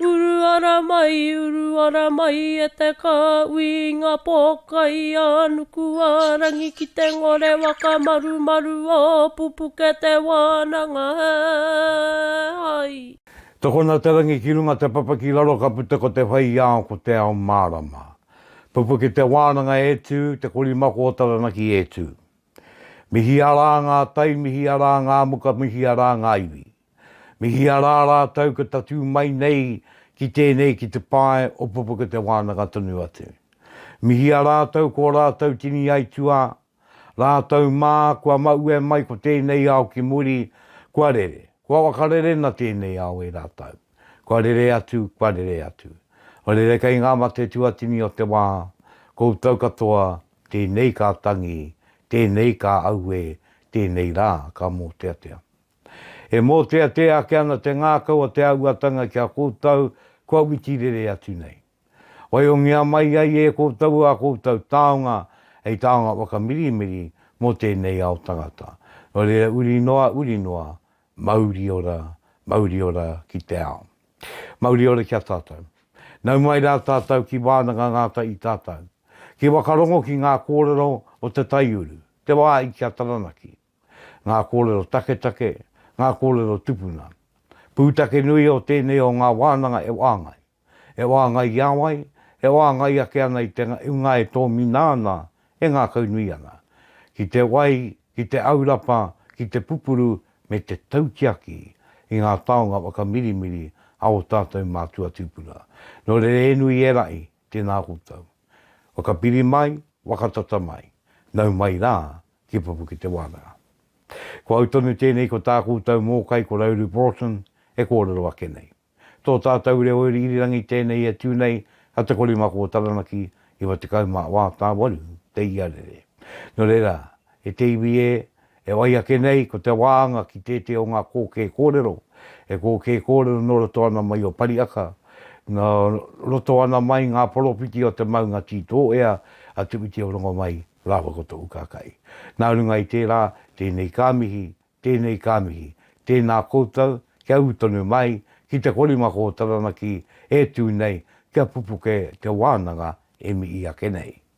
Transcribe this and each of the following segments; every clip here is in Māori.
Uru ara mai, uru ara mai e te kāui i ngā pōkai a Nukuārangi ki te ngore whakamarumaru o pupuke te wānanga he hai. Tokona te rangi ki runga te papa ki raro ka puta ko te whai i ao ko te ao mārama. Pupuke te wānanga e tū, te korimako o Taranaki e tū. Mihi arā ngā tai, mihi arā ngā muka, mihi arā ngā iwi. Mihia rā rātou ka tatū mai nei ki tēnei ki te pae o Pupuka Te Wānanga tonu atu. Mihia rātou ko rātou tini aituā, rātou mā kua maue mai ko tēnei ao ki muri, kua rere, kua wakarerena tēnei ao e rātou, kua rere atu, kua rere atu. Rere kei ngā mate tuatini o te wā, koutou katoa, tēnei ka tangi, tēnei ka auē, tēnei rā ka mōteatea. E mōteatea ake ana te ngākau o te āhuatanga ki a koutou kua witi rere atu nei. Waihongia mai ai e koutou ā koutou taonga hei taonga whakamirimiri mō tēnei ao tangata. Nō reira uri noa, uri noa, mauri ora, mauri ora ki te ao. Mauri ora ki a tātou. Nau mai rā tātou ki Wānanga Ngāta i tātou. Ki Wakarongo ki ngā kōrero o te taiuru, te wāhi ki a Taranaki. ngā kōrero taketake, ngā kōrero tupuna. Pūtake nui o tēnei o ngā wānanga e wāngai. E wāngai i a wai? E wāngai ake ana i te unga e tōmina ana, e ngākaunui ana. Ki te wai, ki te aurapa, ki te pupuru me te tautiaki i ngā taonga whakamirimiri a ō tātou mātua tūpuna. Nō reira e nui e raʻi, Tēnā koutou. Whakapiri mai, whakatata mai, nau mai rā ki Papuketewānanga. Ko au tonu tēnei ko tā koutou mōkai ko Rauru Broughton e kōrero ake nei. Tō tātou reo iri irirangi tēnei e tū nei a Te Korimako o Taranaki 98 te iarere. Nō reira, e te iwi ē, E wai ake nei, ko te wāanga ki tētē o ngā kōkē kōrero, e kōkē kōrero nō roto ana mai o Pariaka, nō roto ana mai ngā poropiti o te maunga tī tō ea a Tuwiti o Rongomai rāua ko tōu kākahi. Nā runga i tērā, tēnei ka mihi, tēnei ka mihi, tēnā koutou, kia ū tonu mai, ki te korimako o Taranaki e tū nei, kia pupuke te wānanga e mihi ake nei.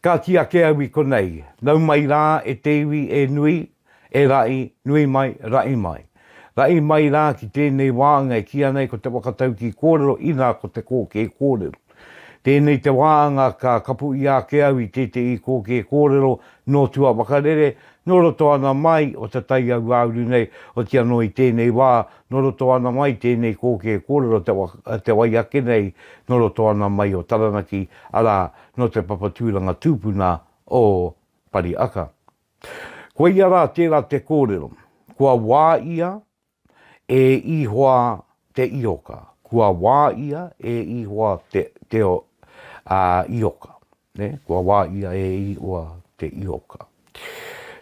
Kāti ake au i konei, nau mai rā e te iwi e nui, e raʻi, nui mai, raʻi mai. Raʻi mai rā ki tēnei wāanga e kīa nei ko te whakataukī kōrero inā ko te kōkē kōrero. Tēnei te wāanga ka kapu ia ake au i tētehi kōkē kōrero nō tua wakarere, nō roto ana mai o te tai auāuru nei, oti anō i tēnei wā, nō roto ana mai tēnei kōkē kōrero te wai ake nei, nō roto ana mai o Taranaki, arā, nō te papa tūranga tūpuna o Pariaka. Koia rā tērā te kōrero, kua wāia e Ihoa te ihoka, kua wāia e Ihoa te, te o, ā, ihoka. Nē, kua wāia e Ihoa te ihoka.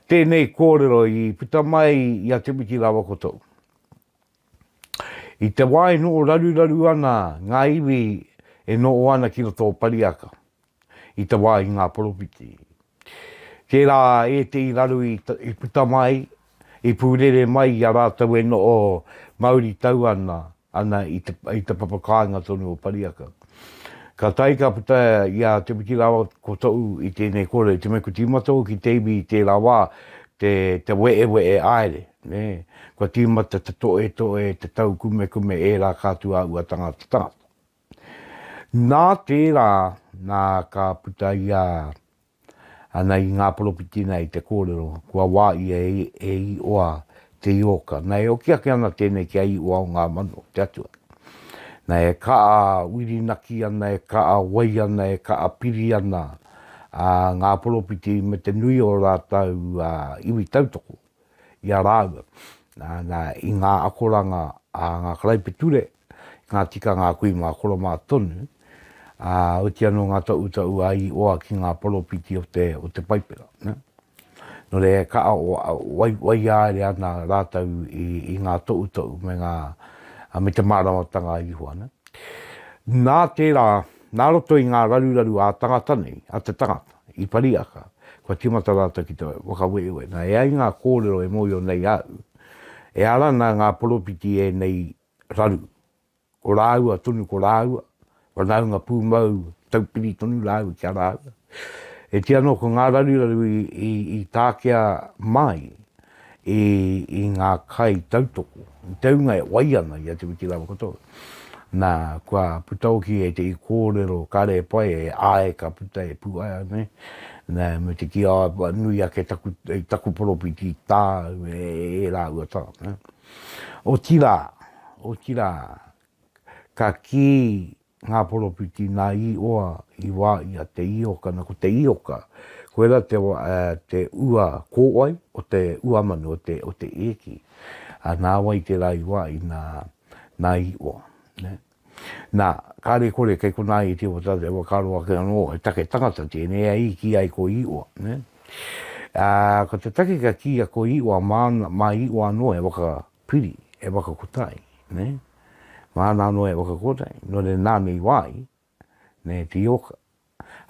Tēnei kōrero i puta mai i a Timiti rāua ko tōu. I te wā e noho raruraru ana ngā iwi e noho ana ki roto o Pariaka, i te wā i ngā poropiti. Tērā ētehi raru i puta mai, i pūrere mai i a rātou e noho mauritau ana ana i te papa kāinga tonu o Pariaka. Ka tae ka puta i a Te Whitirāwa ko Toʻu i tēnei kore, te mea ko Tīmatau ki te iwi i tērā wā, te weʻeweʻe aere. Nē, kua tīmata te toetoe, te taukumekume ērā ka atu a ua tangata tangata. Nā tērā, nā ka puta ia ana i ngā poropiti nei te kōrero, kua wā ia e Ioa te ioka. Nā e oki ake ana tēnei ki a Ioa o ngā mano, te Atua. Nā e kaa wirinaki ana, e kaa wai ana, e kaa piri ana ngā poropiti me te nui o rātou iwi tautoko. i a rāua, nā, i ngā akoranga a ngā karaipiture, i ngā tikanga a kui mā koro mā tonu, ā, oti anō ngā taʻutaʻu a Ioa ki ngā poropiti o te, o te Paipera, nā. Nō reira, e kaʻa wai, waiāere ana rātou i, i ngā toʻutoʻu me ngā, me te māramatanga a Ihowa, nā. Nā tērā. Nā roto i ngā raruraru ā-tangata nei a te tangata i Pariaka, kua tīmata rātou ki te whakaueue, nā, e ai ngā kōrero e mōhio nei au, e ara ana ngā poropiti i ēnei raru, ko rāua tonu ko rāua, whanaunga pūmau, taupiri tonu rāua ki a rāua. E tia noa ko ngā raruraru i, i, i tākea mai i, i ngā kai tautoko, i te hunga e wai ana i a Te Witi Lava katoa. Na, kua puta hoki e te kōrero kare pai e āe ka puta e Puaea nei, na, me te kī, āe, nui ake taku, taku poropiti tāu e, e rāua tā. Otirā, otirā, ka kī Ngā poropiti nā i oa i wā i a Te Ioka na ko Te Ioka koera te wa te ua kōwai o te ua manu o te o te eki a nā wai tērā i wā i nā nā i oa nē nā kāre kore kei konā i te wata te wa karo ake anō he take tangata tēnei a i ki ai ko i oa nē ā ko te take ka kīia ko i oa māna mā i oa anō he waka piri e whakakota ai, nē, māna anō e whakakota ai, nō reira nāna i wā ai, nē, te oka,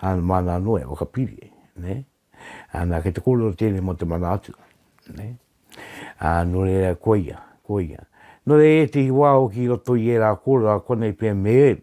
ā, māna anō e whakapiri ai, nē. Ā, nā, kei te kōrero tēnei mō te mana atua, nē. Ā, nō reira, koia, koia. Nō reira, i ētehi wā hoki i roto i ērā kōrero a konei pea me Ēvi,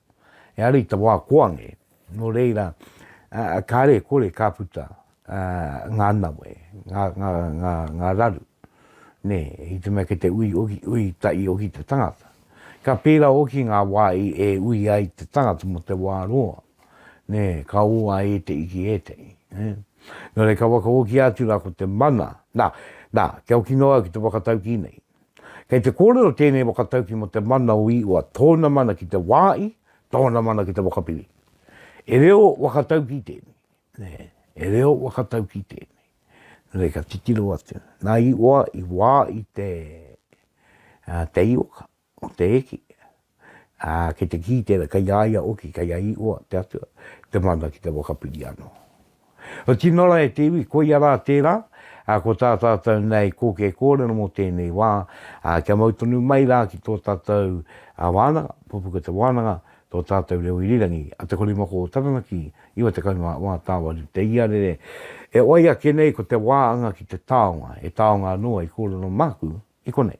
e ara i te wā koange, nō reira, kāre e kore ka puta ngā nawe, ngā, ngā, ngā, ngā raru, nē, i te mea kei te ui, ui, ui tahi hoki te tangata. Ka pērā hoki ngā wā e ui ai te tangata mō te wā roa, nē, ka ō a ētehi ki ētehi. Nō reira, ka whakahokia atu rā ko te mana, nā, nā, kia hoki noa au ki te whakataukī nei, Kei te kōrero tēnei whakatauki mō te mana o Iwa, tōna mana ki te wāhi, tōna mana ki te whakapiri. E reo whakatauki tēnei, e reo whakatauki tēnei. Nō reira, ka titiro atu. Nā Iwa i wāhi te, te ioka, te eki, ā, ki te kī tērā, kei a ia hoki, kei a Ihowa te Atua, te mana ki te whakapiri anō. Kua tino rawe e te iwi, koia rā tērā, ā, ko tā tātou nei kōkē kōrero mō tēnei wā, ā, kia mau tonu mai rā ki tō tātou wānanga, pupuku te wānanga, tō tātou reo irirangi, a Te Korimako o Taranaki, 90 ngā wā tāwari te iarere, e oi ake nei ko te wā anga ki te taonga, he taonga anō hei kōrero māku i konei.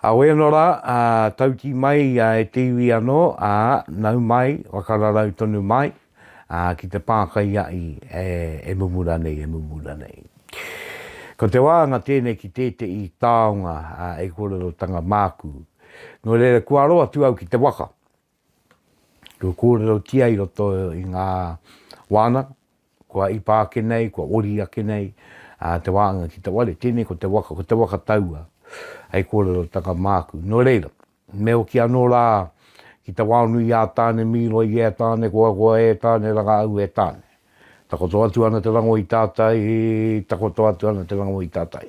Au ēno rā, ā, tauti mai ia e te iwi anō, ā, nau mai, whakararau tonu mai, ā, ki te pākai a i, e, e mumura nei, e mumura nei. Ko te wāanga tēnei ki tēteʻi taonga, ā, e kōrerotanga māku. Nō reira, kua aro atu au ki te waka. Kua kōrerotia i roto i ngā wānanga, kua ipa ake nei, kua ori ake nei te wānanga ki te ware, tēnei ko te waka, ko te waka taua hei kōrerotanga māku. Nō reira, me hoki anō rā ki te waonui a Tāne Mīroi e Tāne Koakoa e Tāne Rangāu e Tāne. Takoto atu ana te rango i tātai, takoto atu ana te rango i tātai.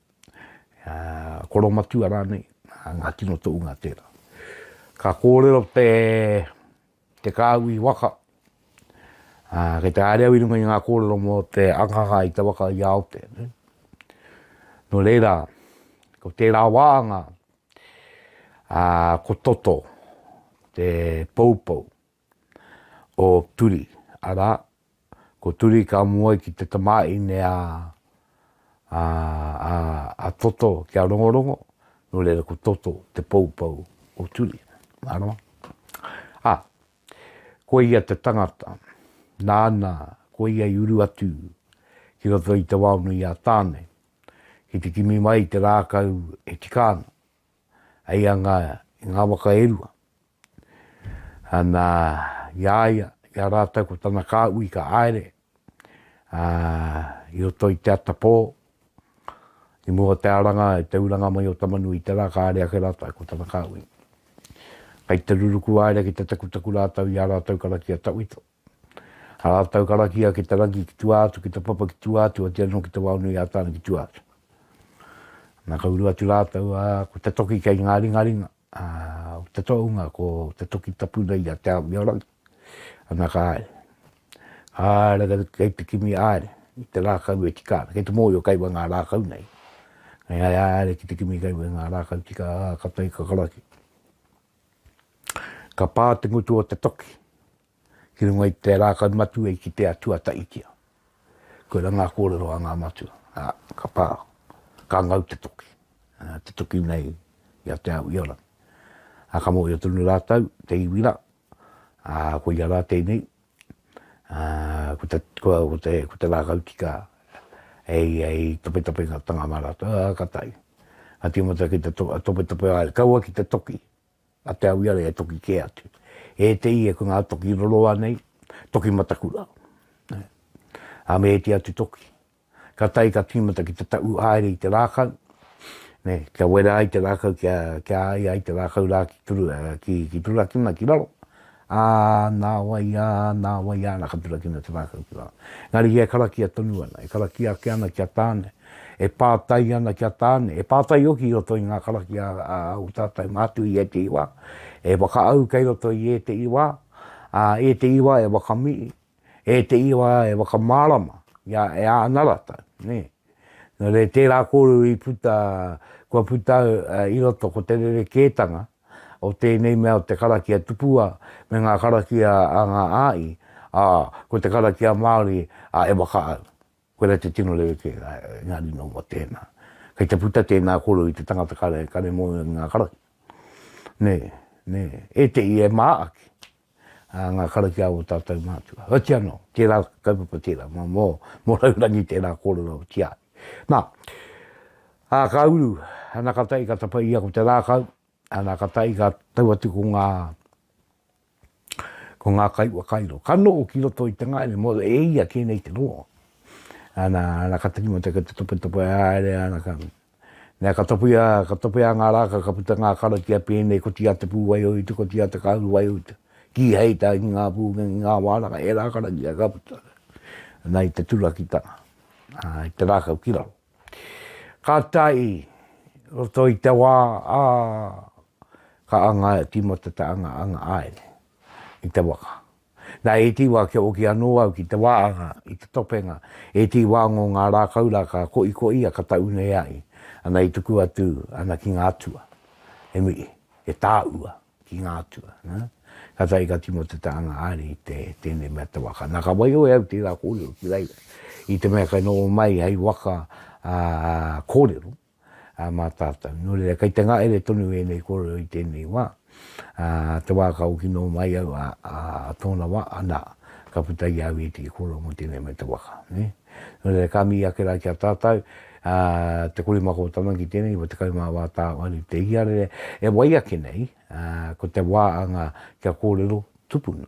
koromatua rānei, ngā tino toʻunga tērā. Ka kōrero te kāhui waka, kei te haere au i runga i ngā kōrero mō te akaka i te waka i a Aotea. Nō reira, ko tērā wāhanga, ko Toto te poupou. o Turi, arā, ko Turi ka mua ai ki te tamāhine a, a, a, a Toto ki a Rongorongo, nō reira ko Toto te poupou o Turi. Arā. Ā, ko ia te tangata, nāna ko ia i uru atu ki roto i te waonui a Tāne, ki te kimi mai te rākau e tika ana, hei anga i ngā waka e rua, Ana, i a ia, i a rātou ko tana kāhui ka haere i roto i te ata pō, i mua o te aranga i te uranga mai o Tamanui i te rā, ka haere ake rātou ko tana kāhui. Kai te ruruku haere ki te takutaku rātou i ā rātou karakia tawhito. Rātou karakia ki te rangi ki tua atu, ki te papa ki tua atu, oati anō ki te Wao-nui-ā-Tāne ki tua atu. Nā, ka uru atu rātou, ā, ko te toki kei ngā ringaringa, ā, ko te tohunga, ko te toki tapu nei i a Te Ao-mio-rangi. Ana ka haere. Ka haere kei, kei te kimi haere, i te rākau e tika ana. Kei te mōhio kei wai ngā rākau nei. Kei haere ki te kimi kei wai ngā rākau tika, ā, ka tae ka karaki. Ka pā te ngutu o te toki ki runga i te rākau matua i kitea tuata'itia. Koirā ngā kōrero a ngā matua, ā, ka pā, ka ngau te toki, te toki nei i a Te Aoiarangi. Ā, ka mōhio tonu rātou, te iwi rā, ā, koia rā tēnei, ko te rākau tika e ia i topetopengatanga mā rātou, ā, ka taea. Ka tīmata ki te topetope haere, kaua ki te toki a Te Awiara e toki kē atu. E te ia ko ngā toki roroa nei, toki matakura, ā, me ēti atu toki. ka tae ka tīmata ki te taʻu haere i te rākau, kia wera ai te rākau kia āia ai te rākau rā ki turakina ki raro, ā, nāwai ā, nāwai ā, nā ka turakina te rākau ki raro. Engari ia e karakia tonu ana, e karakia ake ana ki a Tāne, e pātai ana ki a Tāne, e pātai hoki i roto i ngā karakia a ō tātou mātua i ētehi wā, e whakaau kei roto i ētehi wā, ā, ētehi wā e whakamihi, E te iwa e whakamārama i a e āna ratau, nē. Nō reira, tērā kōrero i puta, kua puta i roto ko te rerekētanga o tēnei mea o te karakia tupua me ngā karakia a ngā āi, ā, ko te karakia Māori a e whakaau. Koirā te tino rerekē, engari nō mō tēnā. Kei te puta tēnā kōrero i te tangata kare, kare mōhio ki ngā karakia. Nē, nē. E te i e mā ake, ā, ngā karakia o ō tātou mātua. Heoti anō, tērā kaupapa tērā, mō, mō, mō Raurangi tērā kōrero o Tiahi. Nā, ā, ka uru, ana ka tahi ka tapa ia ko te rākau, ana ka tahi ka tau atu ko ngā, ko ngā kaiwhakairo. Ka noho ki roto i te ngaere mō e ia kē nei te rongo. Ana, ana ka takimata ki te topetope haere, ana ka, Nā, ka topea, ka topea ngā rākau, ka puta ngā karakia pēnei, koti a te pū waiouta, koti a te kāhu waiouta, kīhei tā ki ngā pū, ki ngā wānaka, ērā karakia ka puta. Nā, i te turakitanga, ā, i te rākau ki raro. Ka tae i roto i te wā, ā, ka anga, tīmata te anga, anga āe nei, i te waka. Na e ti wa kia oki ano au ki te waanga i te topenga, e ti wa ngo nga rakau ra ka koikoi ia ka tau nei ai ana i tuku atu ana ki nga atua. E miri, e taua ki nga atua, na, ka tae ka tino te taanga ari i te tenei mea te waka. Na ka waiho e au tera korero ki reira, i te mea kai noho mai hei waka korero, ā, mā tātou. Nō reira, kei te ngahere tonu ēnei kōrero i tēnei wā, ā, te wā ka hoki noa mai au, ā, ā, tōna wā, anā, ka puta i a au ētehi kōrero mō tēnei mea te waka, nē. Nō reira, ka mihi ake rā ki a tātou, ā, te korimako tama ki tēnei, wa tekau mā wā tāwāhi te ihiarere, e wai ake nei, ā, ko te wā anga kia kōrero tupuna.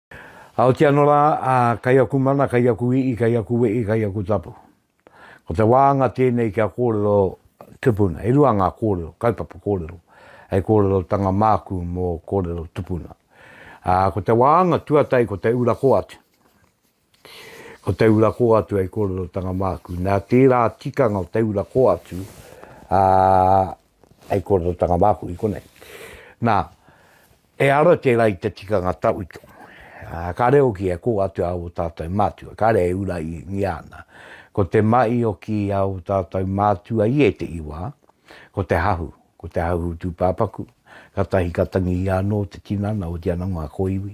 Aoti ano ra, a, kai aku mana, kai aku ii, kai aku wei, kai aku tapu. Ko te waanga tenei kia korero tupuna. E rua nga korero, kaupapa korero. Hei korerotanga maaku mo korero tupuna. A, ko te waanga tuatai ko te ura ko atu. Ko te ura ko atu hei korerotanga maaku. Na tera tikanga o te ura ko atu, a, hei korerotanga maaku i konei. Na, He ara tērā i te tikanga tawhito. Kāre hoki e kō atu ā ō tātou mātua, kāre e uraingia ana. Ko te mahi o kī a ō tātou mātua i ētehi wā, ko te hahu, ko te hahu tūpāpaku, kātahi ka tangihia anō te tinana, otiia anō ngā kōiwi,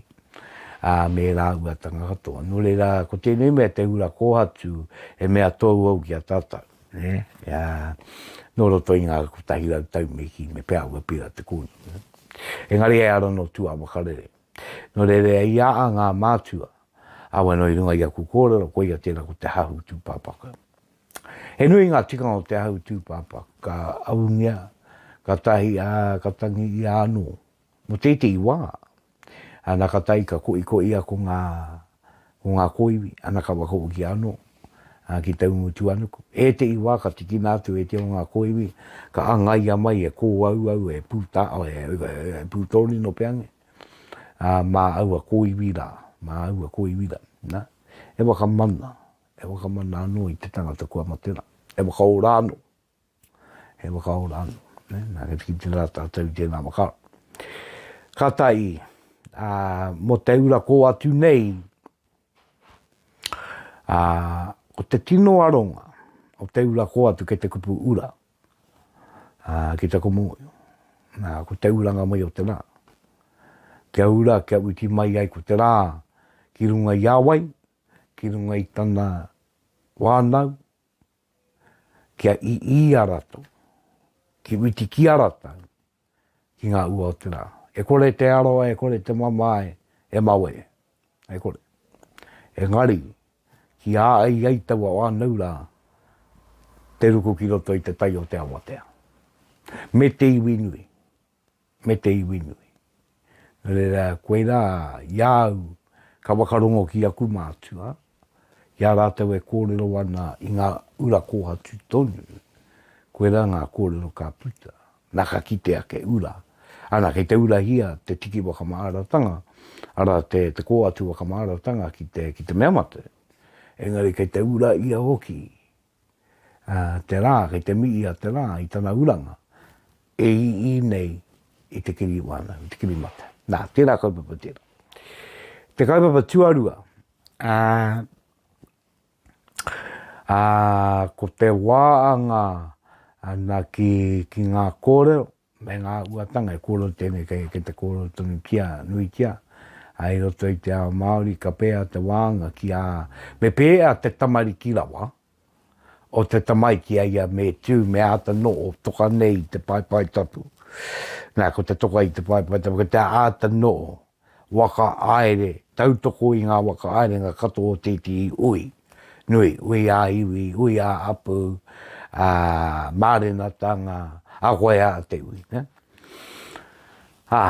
ā, me rāua tanga katoa. Nō reira, ko tēnei mea te hura kōhatu, he mea tōuou ki a tātou. Nō roto i ngā kotahi rau tau me kī, me pēhea kua pērā te kōrero. Engari e ara nō tū a Makarere. Nō reira, i a a ngā mātua, awe nō i runga i aku kōrero, koia tērā ko te hahu tūpāpaku. He nui ngā tikanga o te hahu tūpāpaku, ka aungia, ka tahi, ā, ka tangi ia anō. Mo teitei wa, ana ka tai ka koikoi a ko nga, ko nga koiwi, ana ka wakawakia ano, a ki Taumutuanuku. Etei wa ka tikina atu e te o nga koiwi, ka angaia mai e Koauau e Puta, e Putonino peange, a ma aua koiwi ra, ma aua koiwi ra, na, e wakamana, e wakamana ano i te tangata kua mate ra, e wakaora ano, he whakaora anō. Nā, kia tiki tērā tātou i tēnā whakaaro. Ka tahi, ā, mō te ura kō atu nei, ā, ko te tino aronga o te ura kō atu kei te kupu ura, ā, ki te komōio. Nā, ko te uranga mai o te rā. Kia ura, kia uti mai ai ko te rā ki runga i a wai, ki runga i tana wānau, kia i i a ratou, ki witi ki a ratou, ki nga ua o te ra. E kore te aroa, e kore te mamae, e mau e. E kore. Engari, ki a ai ai taua whanau ra, te ruku ki roto i te tai o te awatea. Me te iwi nui. me te iwi nui. No reira, koira i a au ka whakarongo ki aku mātua, i a rātou e kōrero ana i ngā ura kōhatu tonu, koira ngā kōrero ka puta, nā ka kite ake ura. Ana, kei te urahia te tiki whakamāratanga, arā, te kōhatu whakamāratanga ki te mea matou, engari kei te ura ia hoki te rā, kei te mihi a te rā i tana uranga e ii nei i te kiri wānau, i te kiri mate. Nā, tērā kaupapa tērā. Te kaupapa tuarua, ā, ā, ko te wā anga ana ki, ki ngā kōrero, me ngā uatanga e kōroti ana kei te kōrero tonutia, nuitia, ā, i roto i te ao Māori ka pēhea te wānanga ki ā, me pēhea te tamariki rawa o te tamaiti a ia me tū, me āta noho toka nei i te paepae tapu. Nā, ko te toka i te paepae tapu, ko te āta noho whakahaere tautoko i ngā whakahaerenga katoa o tētehi hui nui, hui ā-iwi, hui ā-hapū, ā, mārenatanga, ā koe ā te iwi. Ā,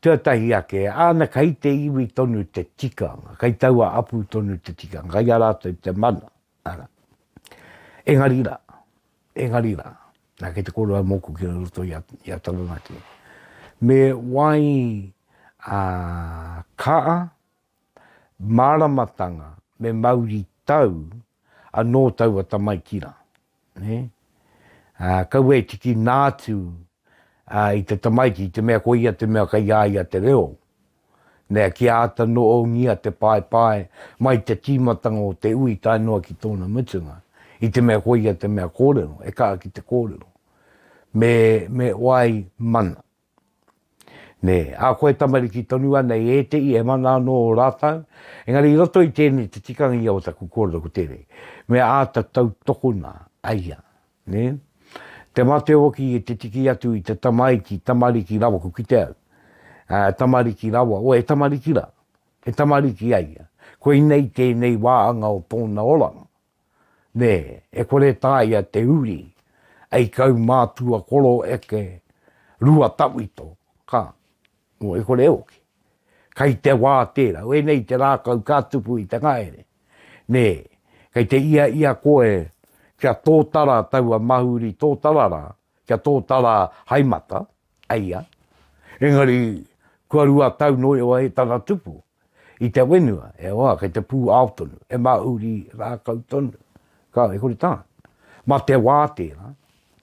tuatahi ake, āna kei te iwi tonu te tikanga, kei taua hapū tonu te tikanga, kei a rātou te mana, Ara. Engari ra, engari ra, na kei te koro au moku ki roto i a, i a Taranaki. Me wai a kaa, maramatanga, me mauri tau, ano taua tamaiti ra. Ne? A, kaua e tiki naatu a, i te tamaiti, i te mea ko ia te mea kai a ia te reo. Mea kia āta noongia te paepae mai te tīmatanga o te ui tae noa ki tōna mutunga, i te mea koia te mea kōrero, e kaha ki te kōrero. Me, me wai mana. Nē, a koe tamariki tonu anei ētehi e mana anō ō rātau, engari i roto i tēnei te tikanga ia o taku kōrero ko tēnei, me āta tautokona, aia, Nē? Te mate hoki i te tiki atu i te tamaiti, tamariki rawa, ko kite au, ā, tamariki rawa, o he tamariki rā, he tamariki a ia. Koinei tēnei wāhanga o tōna oranga. Nē, e kore e tāia te uri, ei kau mātua koro eke, rua tawhito, ka, Nō e kore e oki. Kai te wā tērā. Wēnei te rākau ka tupu i te ngahere. Nē, kei te ia ia koe kia tōtara taua mahuri tōtara rā, kia tōtara hai mata, eia. Engari, kua rua tau nō i wae tana tupu. I te whenua, e hoa, kei te pū ao tonu, he mahuri rākau tonu. Kāo, e kore tā. Mā te wā tērā.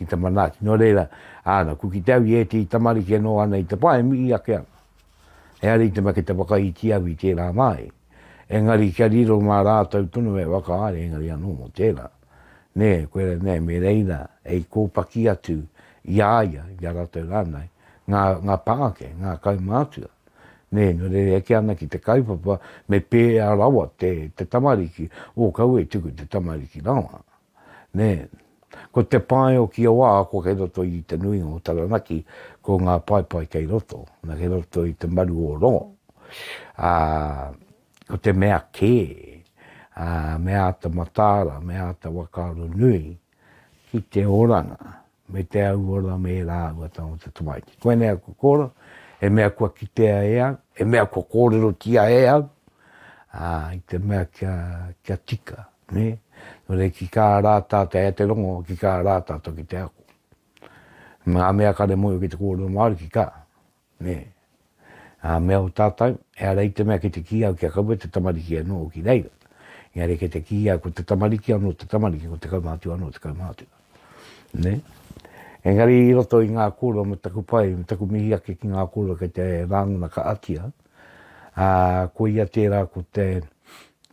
ki te manaaki. Nō reira, āna, ko ki te au i ētehi tamariki e noho ana i te pā, e mihi ake ana. Ehara i te mea ki te whakaiti au i tērā māi, engari kia riro mā rātou tonu e whakahaere, engari anō mō tērā. Nē, koe rā, nē, me reira e i kōpaki atu i a ia, i a rātou rānei, ngā, ngā pā ake, ngā kaumātua. Nē, nō reira e eke ana ki te kaupapa me pēhea rawa te, te tamariki, ō, kaua e tuku te tamariki rawa. Nē. Ko te pae o kia wā, ko kei roto i te nuinga o Taranaki, ko ngā paepae kei roto, na, kei roto i te maru o rongo. Ā, ko te mea kē, ā, me āta mataara, me āta whakaaro nui ki te oranga, me te au ora me ērā āhua tau o te tamaiti. Koinei a Kokora, he mea kua kitea e au, he mea kua kōrerotia e au, ā, i te mea kia, kia tika, nē. Nō reira, ki kā rā tātou, e ai te rongo, ki kā rā tātou ki te ako. Ngā mea kare mōhio ki te kōrero Māori, ki kā. Nē. Ā, me aho tātou, ehara i te mea ki te kī au kia kaua te tamariki anō ki reira, engari kei te kī au ko te tamariki anō te tamariki, ko te kaumātua anō te kaumātua. Nē? Engari i roto i ngā kōrero me taku pai, me taku mihi ake ki ngā kōrero kei te rāngona ka atia, ā, koia tērā ko te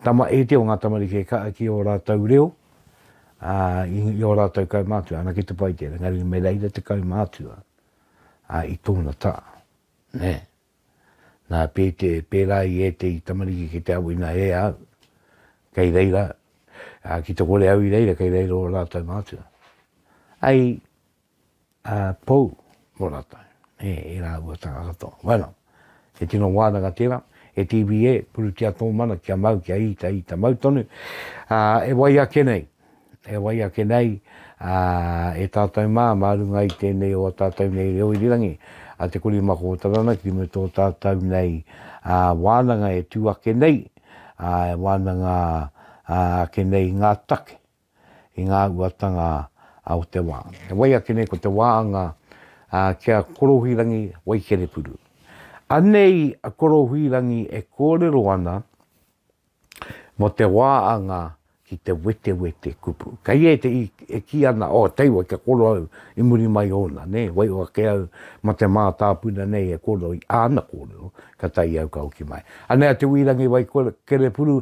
tama iti o ngā tamariki e kaha ki ō rātou reo, ā, i ō rātou kaumātua, anake te pai tērā, engari me reira te kaumātua. ā, i tōna tā, nē. Nā, pēte, pērā i ētehi tamariki ki te awina e au, kei reira, ā, ki te kore au i reira, kei reira ō rātou mātua. Ai, ā, pou mō rātou, nē, e rāua tā katoa. Bueno. He tino wānanga tēnā, e TVA, purutia tō mana kia mau, kia ita, ita mau tonu. Ā, e wai ake nei, e wai ake nei, ā, e tātou mā, mā runga i tēnei o ā tātou nei reo irirangi, a Te Kori Mako o Taranaki me tō tātou nei, ā, wānanga e tū ake nei, ā, e wānanga, ā, ake nei ngā take, i ngā uatanga o te wā. E wai ake nei ko te wāanga ki a Korohuirangi Waikerepuru. Anei a Korohuirangi e kōrero ana mō te wāanga ki te wetewete kupu. Kei ētehi e kī ana, oh, tei wai kia koro au i muri mai ōna, nē, waiho ake au mā te mātāpuna nei e koro i āna kōrero, ka tae i au ka hoki mai. Anei a Te Wīrangi Waikerepuru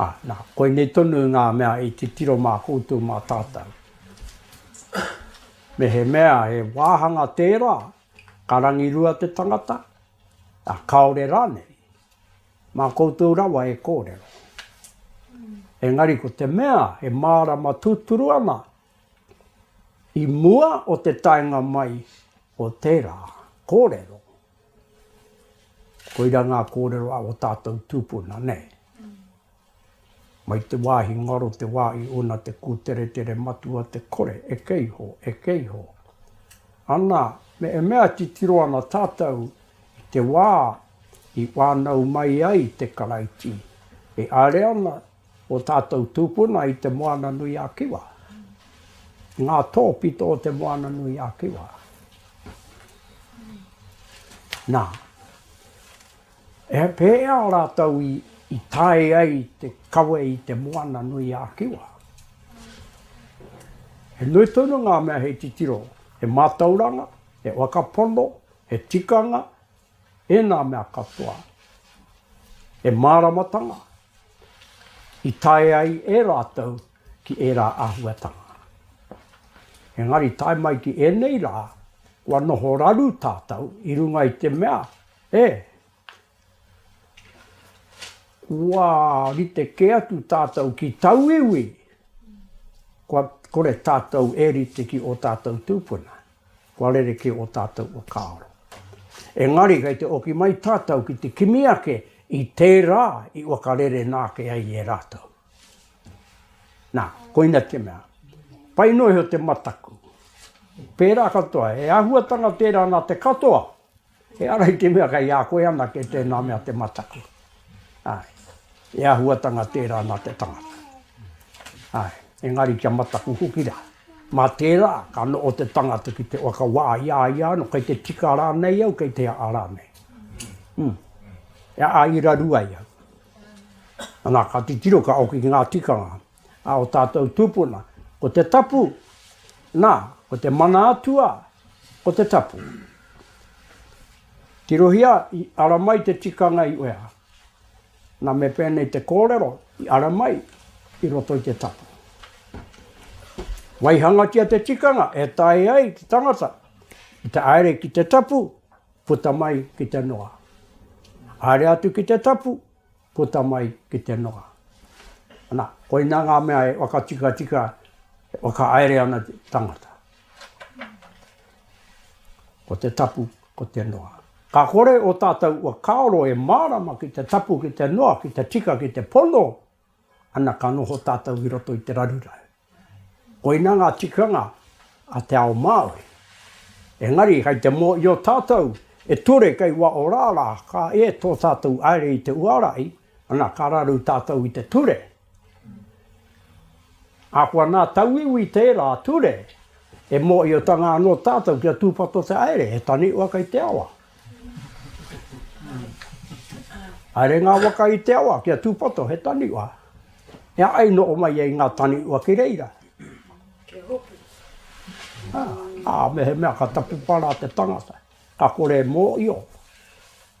Ā, nā, koinei tonu ngā mea i titiro mā koutou mā tātou. Mehemea he wāhanga tērā, ka rangirua te tangata, ā, kāore rānei, mā koutou rawa e kōrero. Engari ko te mea e mārama tūturu ana, i mua o te taenga mai o tērā kōrero, Koira ngā kōrero a o tātou tūpuna, nē. Mai te wāhi ngaro te wā i ūna te kūteretere matua te kore e kē iho, e kē iho. Ana, me e mea titiro ana tātou i te wā i whānau mai ai te Karaiti, e haere ana o tātou tūpuna i te Moana-nui-a-Kiwa, i ngā tōpito o te Moana-nui-a-Kiwa. Nā, e pēhea rātou i, i tae ai te kawe i te Moana-nui-a-Kiwa? He nui tonu ngā mea hei titiro, he mātauranga, he wakapono, he tikanga, ēnā mea katoa, he māramatanga i tae ai e rātou ki ērā āhuatanga. Engari tae mai ki ēnei rā, kua noho raru tātou i runga i te mea, e, kua rite kē atu tātou ki tauiwi, kua kore tātou e rite ki ō tātou tūpuna. Kua rerekē ō tātou whakaaro. Engari kei te oki mai tātou ki te kimi ake i tērā i whakarerenā ake ai e rātou. Nā, koina te mea, pai noa iho te mataku. Pērā katoa, he āhuatanga tērā nā te katoa. He ara i te mea kei a koe anake tēnā mea te mataku. Āe. He āhuatanga tērā nā te tangata. Āe. Engari kia mataku hoki rā. Mā tērā, ka noho te tangata ki te waka wā i a ia anō, kei te tika rānei au, kei te aha rānei. Ū. E āira rua ai au. Anā, ka titiro, ka hoki ki ngā tikanga. A o tātou tūpuna, ko te tapu, nā, ko te mana atua, ko te tapu. Tirohia, i ara mai te tikanga i uea. Nā me pēnei te kōrero, i ara mai i roto i te tapu. Waihangatia te tikanga e taea ai te tangata ki te aere ki te tapu, puta mai ki te noa. Aere atu ki te tapu, Puta mai ki te noa. Ana, koina nga mea e whakatikatika, e whakaere ana te tangata. Ko te tapu, ko te noa. Ka kore o tatou ua kaoro e marama ki te tapu, ki te noa, ki te tika, ki te pono, ana ka noho tatou i roto i te raruraru. Koina ngā tikanga a te ao Māori. Engari kei te mōhio tātou e ture kei waho rā rā ka ē tō tātou haere i te uarai, ana ka raru tātou i te ture. Ahakoa nā tauiwi tērā ture, e mōhiotanga anō tātou kia tūpato te haere, he taniwha kei te awa. Haere ngā waka i te awa kia tūpato he taniwha. E aha i noho mai ai ngā taniwha ki reira? Kia hopu. Ā, mehemea ka tapupa rā te tangata, ka kore e mōhio,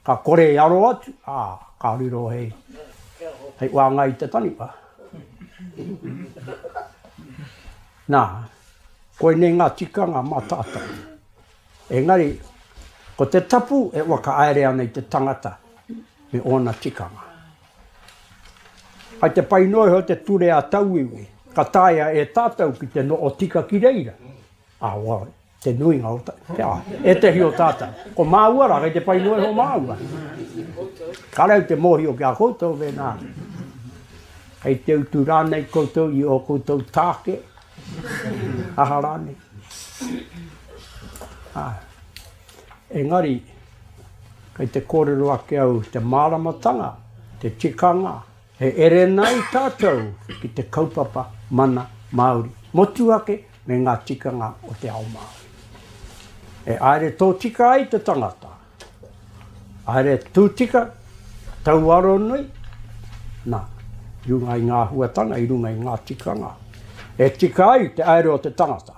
ka kore e aro atu, ā, ka riro hei, hei wāngai i te taniwha. Nā, koinei ngā tikanga mā tātou. Engari, ko te tapu e whakahaere ana i te tangata me ōna tikanga. Kai te pai noa iho te ture a tauiwi, ka taea e tātou ki te noho tika ki reira. Awa, te nuinga o te a, ētehi o tātou. Ko māua rā, kai te pai noa iho māua. Ka rau te mōhio ki a koutou mēnā, kai te utu rānei koutou i o koutou tāke, aha rānei. Ā, engari, kei te kōrero ake au i te māramatanga, te tikanga, he erēna ai tātou ki te kaupapa mana Māori, motuhake me ngā tikanga o te ao Māori. E āere tōtika ai te tangata. Haere tū tika, tau aro nui, nā, i runga i ngā huatanga, i runga i ngā tikanga, e tika ai te aere o te tangata.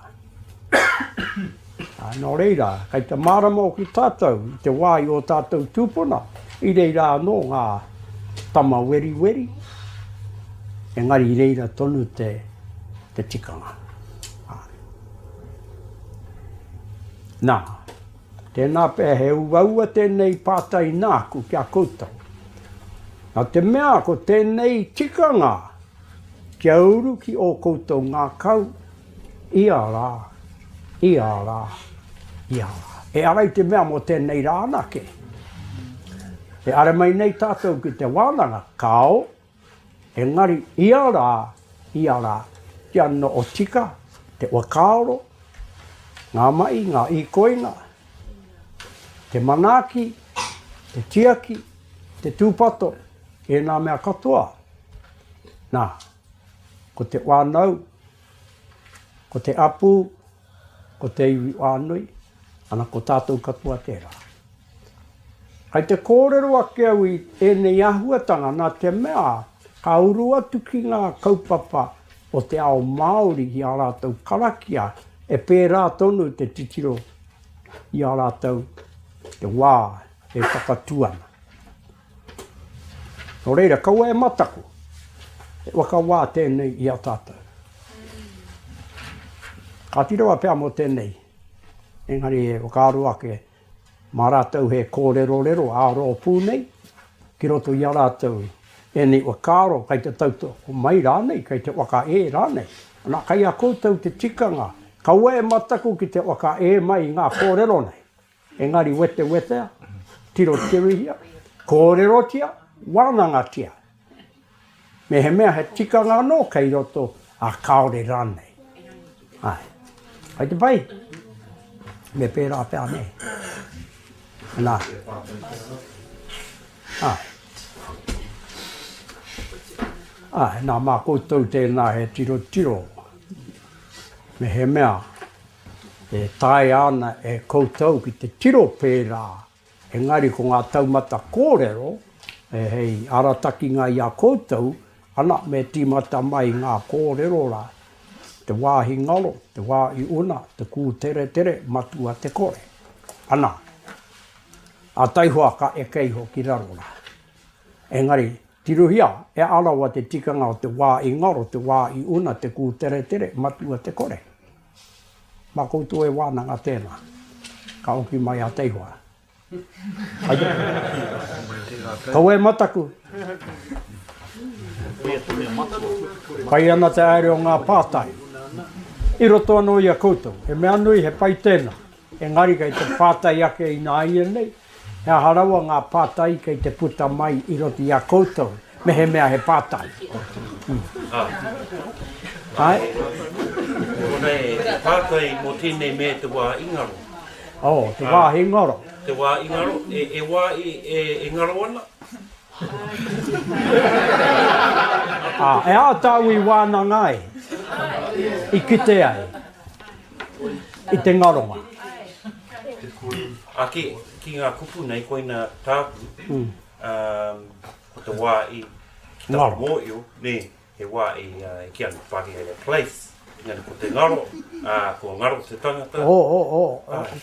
Ā, nō reira, kei te mārama hoki tātou i te wā i ō tātou tūpuna, i reira anō ngā tama weriweri, engari i reira tonu te, te tikanga. Ā. Nā, Tēnā pea he uaua tēnei pātai nāku ki a koutou. Nā te mea ko tēnei tikanga kia uru ki ō koutou ngākau ia rā, ia rā, ia rā. E ara i te mea mō tēnei rā anake. E are mai nei tātou ki te wānanga, kāo, Engari ia rā, ia rā, kia noho tika te whakaaro, ngā mahi, ngā īkoinga, te manaaki, te tiaki, te tūpato, ēnā mea katoa. Nā, ko te whānau, ko te hapū, Ko te iwi whānui, ana ko tātou katoa tērā. Kai te kōrero ake au i ēnei āhuatanga nā te mea ka uru atu ki ngā kaupapa o te ao Māori ki ā rātou karakia e pērā tonu te titiro i a rātou te wā e whakatū ana. Nō reira, kaua e mataku, he waka wā tēnei i a tātou. Kāti rawa pea mō tēnei, engari e whakaaro ake mā rātou he kōrerorero ā-rōpū nei, ki roto i a rātou ēnei whakaaro kei te tautoko mai rānei, kei te whakaē rānei. Ana, kei a koutou te tikanga, kaua e mataku ki te whakaē mai i ngā kōrero nei. Engari wetewetea, tirotirihia, kōrerotia, wānangatia. Mehemea he tikanga anō kei roto, ā, kāore rānei. Āe. Hei te pai, me pērā pea anei. Nā. Āe. Āe, nā, mā koutou tēnā he tirotiro. Mehemea. E taea ana e koutou ki te tiro pērā, engari ko ngā taumata kōrero hei aratakinga i a koutou, ana, me tīmata mai ngā kōrero rā, te wāhi ngaro, te wā i una, te kūteretere, matua te kore. Ana, a taihoa ka eke iho ki raro rā. Engari, tirohia, e Arawa te tikanga o te wā i ngaro, te wā i una, te kūteretere, matua te kore. Mā koutou e wānanga tēnā, ka oki mai a Teihoa. Kawē mataku! Pai ana te haere o ngā pātai. I roto anō i a koutou. He mea nui, he pai tēnā. Engari kei te pātai ake ināianei, he aha rawa ngā pātai kei te puta mai i roto i a koutou, mehemea he pātai? Āe? Kona e pātai mō tēnei mea te wā i ngaro. Oh, te wā i ngaro. Te wā i ngaro, e wā e ngaro ana? Ā, e āta au i wānanga ai, i kite ai. i te ngaronga. Ake ki nga kupu nei koina taku ko te wa i ki ta moio ne he wa i ki anu pari e le place ngana ko te ngaro a ko ngaro te tangata. O o o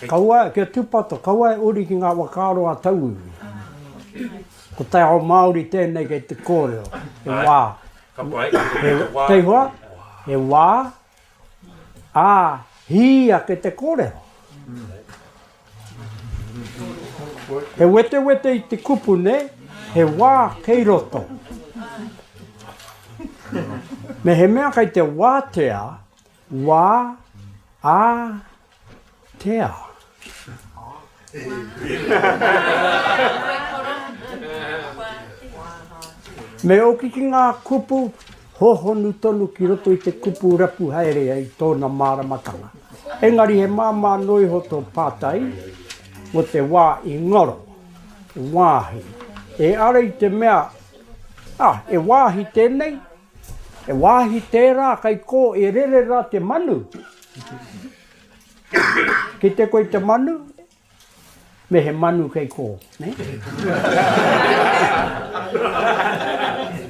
kaua kia tupato kaua e uri ki nga wakaaro a tauiwi. Ko te ao maori tenei kei te korero he wa. Ka pai. Kei hoa he wa. Ā, hī ake te kōrero. He wetewete i te kupu nei, he wā kei roto. Mehemea kei te wātea wā, ā, Tea. Me oki ki ngā kupu hōhonu tonu ki roto i te kupu rapu haere i tōna māramatanga. Engari he māmā noa iho tō pātai mō te wā i ngaro, wāhi. E ara i te mea, ah, e wāhi tēnei? He wāhi tērā kei kō e rere rā te manu. Kite koe te manu, me he manu kei kō.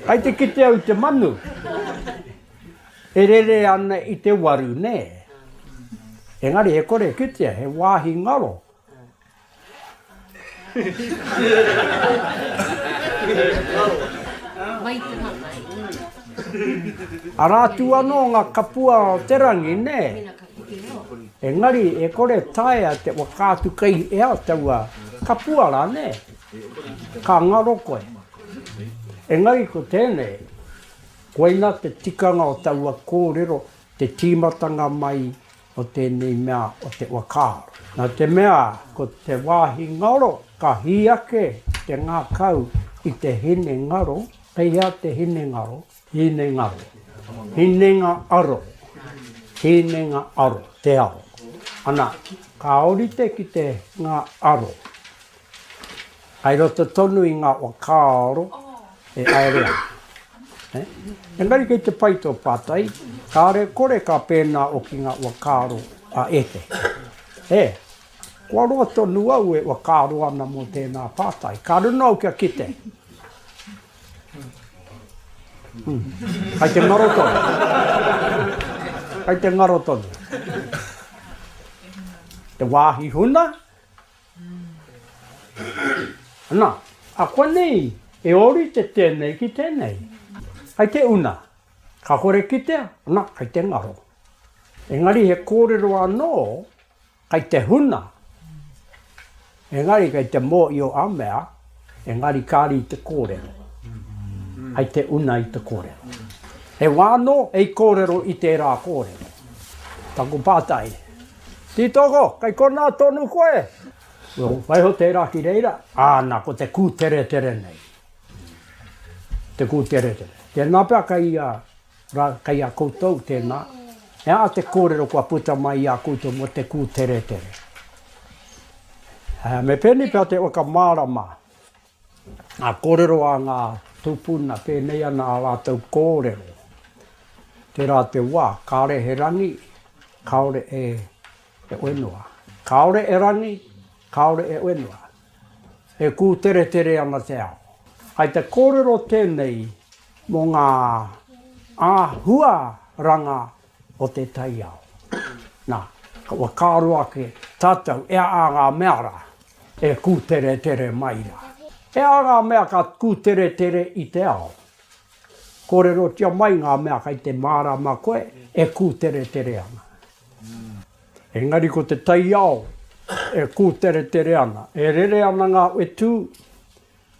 Kai te kite au te manu, e rere ana i te waru, nē. Engari e kore e kitea, he wāhi ngaro. Ara atu ano nga kapua o te rangi, ne? Engari e kore taea te whakaatu kei ea taua kapua ra, ne? Ka ngaro koe. Engari ko tenei, koina te tikanga o taua korero, te timatanga mai o tēnei mea o te whakaaro. Nā te mea ko te wāhi ngaro ka hī ake te ngākau i te hine ngaro, kei hea te hine ngaro? Hine ngaro, hinenga aro, hinenga aro, te aro. Ana, ka ōrite ki te ngā aro, Kai roto tonu i nga wa kaaro e aere ana. Engari kei te pai to patai, kare kore ka pena o ki nga wa kaaro a etehi. E, kua roa tonu au e wa kaaro ana mo tena patai, ka runa au kia kite. Hum. Kai te ngaro tonu. Kai te ngaro tonu. Te wahi huna, Na, akuanei e orite tenei ki tenei. Kai te una, ka kore kitea, na, kai te ngaro. Engari he korero ano, kai te huna, engari kai te mohio a mea, engari kari i te korero. Kai te una i te korero. He wa ano, hei korero i tera korero. Taku patai. Tītoko, kei konā tonu koe? Well, waiho tērā ki reira, āna, ko te kūteretere nei. Te kūteretere. Tēnā pea kei a, ra, kei a koutou, tēnā. He aha te kōrero kua puta mai i a koutou mō te kūteretere? Uh, me pēnei pea te whakamārama. Ngā kōrero a ngā tūpuna pēnei ana ā rātou kōrero. Tērā te wā, kāore he rangi, kāore e whenua. Kāore e rangi, kāore e whenua. E kūteretere ana te ao. Hai te kōrero tēnei mō ngā āhuaranga o te taiao. Na, kua karo ake tatou e aha nga mea ra e kuteretere mai ra. E aha nga mea ka kuteretere i te ao? Korerotia mai nga mea kai te marama koe e kuteretere ana. Engari ko te taiao e kuteretere ana, e rere ana nga wetu,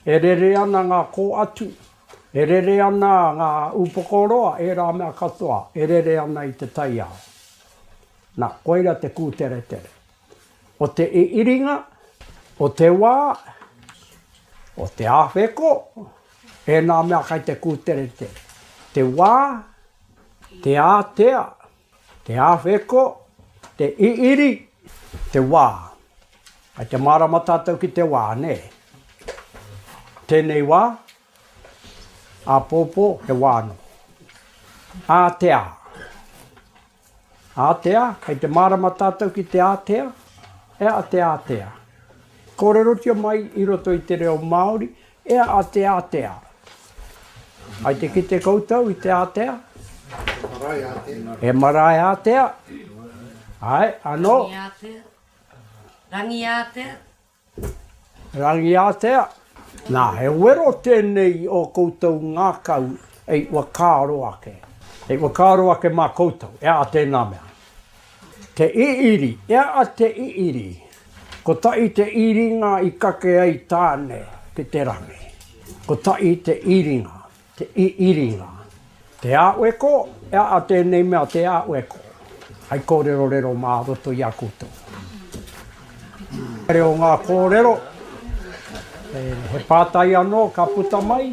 E rere ana ngā kōatu, e rere ana ngā upoko roa, ērā mea katoa e rere ana i te taiao. Nā, koira te kūteretere. O te iriiringa, o te wā, o te awheko, ēnā mea kai te kūteretere. Te wā, te ātea. Te awheko, te iri, te wā. Kai te mārama tātou ki te wā, nē. Tēnei wā, āpōpō, he wā anō. Ātea. Ātea, kai te mārama tātou ki te ātea, he aha te ātea? Kōrerotia mai i roto i te reo Māori, Ea a te ātea. Hai te kite koutou i te ātea? He marae ātea. He marae ātea. Hai, anō. Rangi ātea. Rangi ātea. Rangi ātea. Nā, he wero tēnei i ō koutou ngākau e i whakaaro ake. E i whakaaro ake mā koutou, ea a tēnā mea. Te Iiri, E a Te Iiri, kotahi te iringa i kake ai Tāne ki te rangi. Kotahi te iringa, te iiringa. Te Āweko, E a a tēnei mea Te Āweko, hai kōrerorero mā roto i a koutou. Reo ngā kōrero, he pātai anō ka puta mai.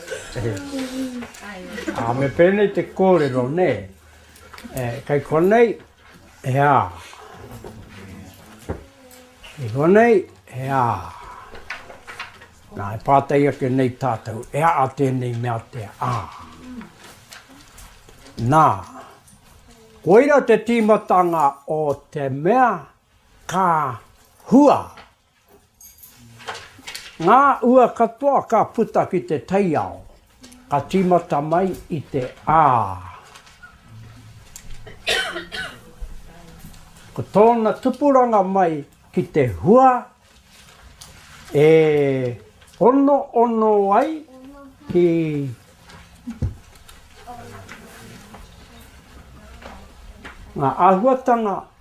Ā, me pēnei te kōrero, nē? E, kei konei, he ā. Kei konei, he ā. Nā, e pātai ake nei tātou, e ā tēnei mea te ā. Nā, koira te tīmatanga o te mea ka hua. Ngā ua katoa ka puta ki te taiao, ka tīmata mai i te a. Ko tōna tupuranga mai ki te hua e onoono ai ki ngā āhuatanga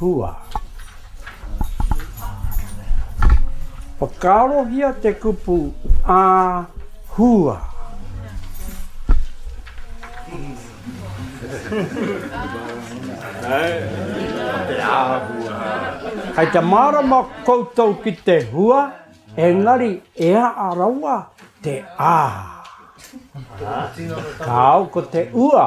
Hua. Whakaarohia te kupu a hua. Kei te mārama koutou ki te hua, engari e aha rawa te a. Kāo ko te ua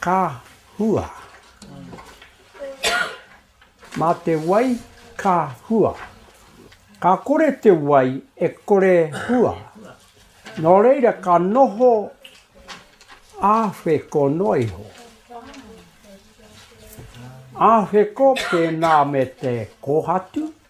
Ka hua. Mā te wai ka hua. Ka kore te wai e kore hua. Nō reira ka noho āwheko noa iho. Āwheko pēnā me te kōhatu.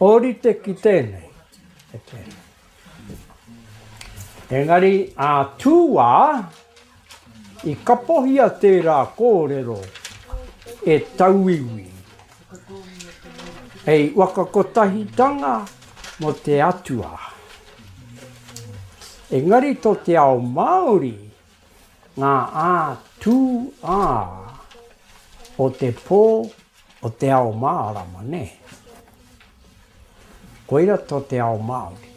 Ōrite ki tēnei, e tēnei. Engari, ā Tūā, i kapohia tērā kōrero e tauiwi, hei wakakotahitanga mō te Atua. Engari tō te ao Māori, Ngā ā tū ā o te pō o te ao mārama, nē. Koira tō te ao Māori.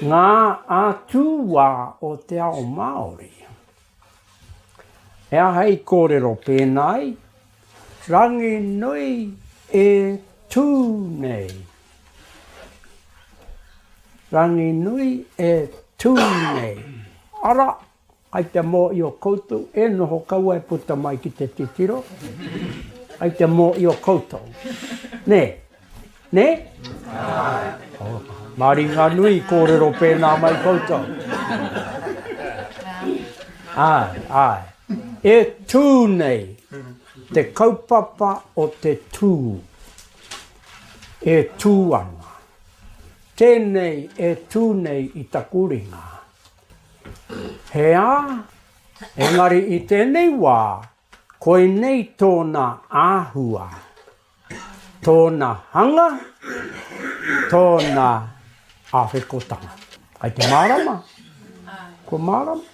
Ngā ā tū wā o te ao Māori. He aha i kōrero pēnā ai? Rangi nui e tū nei. Rangi nui e tū nei. Ara, kai te mōhio koutou e noho kaua e puta mai ki te titiro, kai te mōhio koutou. Nē? Nē? Mā ringa nui i kōrero pēnā mai koutou. Āe, āe. E tū nei te kaupapa o te tū. E tū ana. Tēnei e tū nei i taku ringa. He ā, engari i tēnei wā, koinei tōna āhua. Tōna hanga, tōna awhekotanga. Kai te mārama, kua mārama.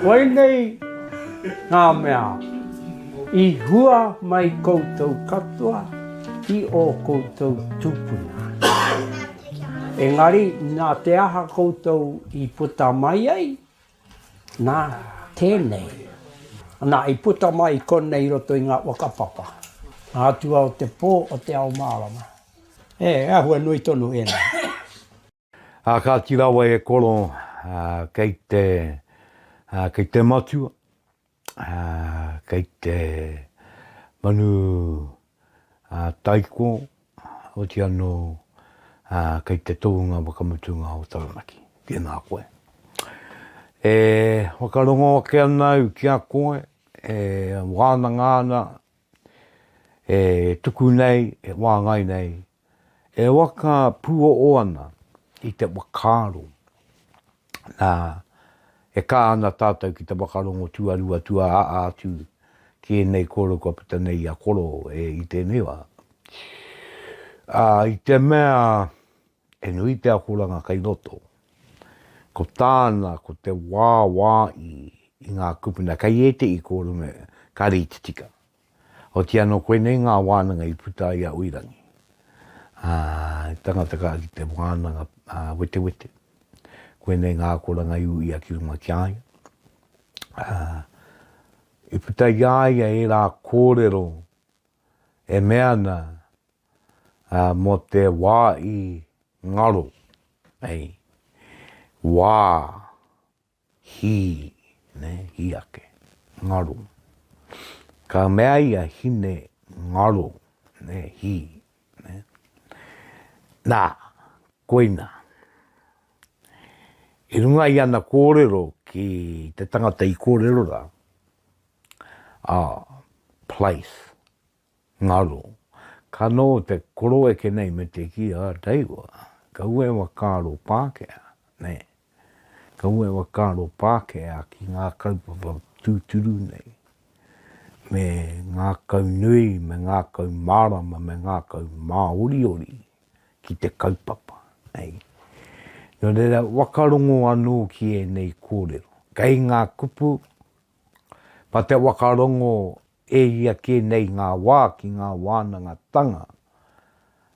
Koinei ngā mea i hua mai koutou katoa i ō koutou tūpuna. Engari, nā te aha koutou i puta mai ai, Nā, tēnei. Nā, i puta mai i konei i roto i ngā whakapapa, ngā atua o te pō o te ao mārama. E, he āhua nui tonu ēnei. Ā, kāti rawa e Koro, kei te, kei te Matua, Ā, kei te manu taiko, oti anō kei te tohunga whakamutunga o Taranaki. Tēnā koe. E whakarongo ake ana au ki a koe, e wānanga ana, e tuku nei, e wāngai nei E waka puoʻo ana i te whakaaro, nā, e kā ana tātou ki te whakarongo tuarua, tuaaa atu ki ēnei kōrero kua puta nei i a Koro e i tēnei wā. Ā, i te mea he nui te akoranga kei roto, ko tāna ko te wāwāi i ngā kupuna kei ēteʻi kōrero me ka rītitika. Otiia anō koinei ngā wānanga i puta ai a Uirangi, ā, he tangata ka ki te wānanga wetewete, koinei ngā akoranga i uia ki runga ki a ia, ā, i puta i a ia ērā kōrero e mea ana mō te wā i ngaro, hei, wā. Hī, nē, hī ake, ngaro. Ka mea ia, Hine, ngaro, nē, hī, nē. Nā, koina. I runga i ana kōrero ki te tangata i kōrero rā, ā, place, Ngaro. Ka no te koroeke nei me te ki a Reiwa, kaua e whakaaro Pākehā, nē. Kaua e whakaaro Pākehā ki ngā kaupapa tūturu nei, me ngākau nui, me ngākau mārama, me ngākau māoriori ki te kaupapa, nei. Nō reira, whakarongo anō ki ēnei kōrero. Kei ngā kupu, mā te whakarongo E ia kē nei ngā wā ki ngā wānangatanga,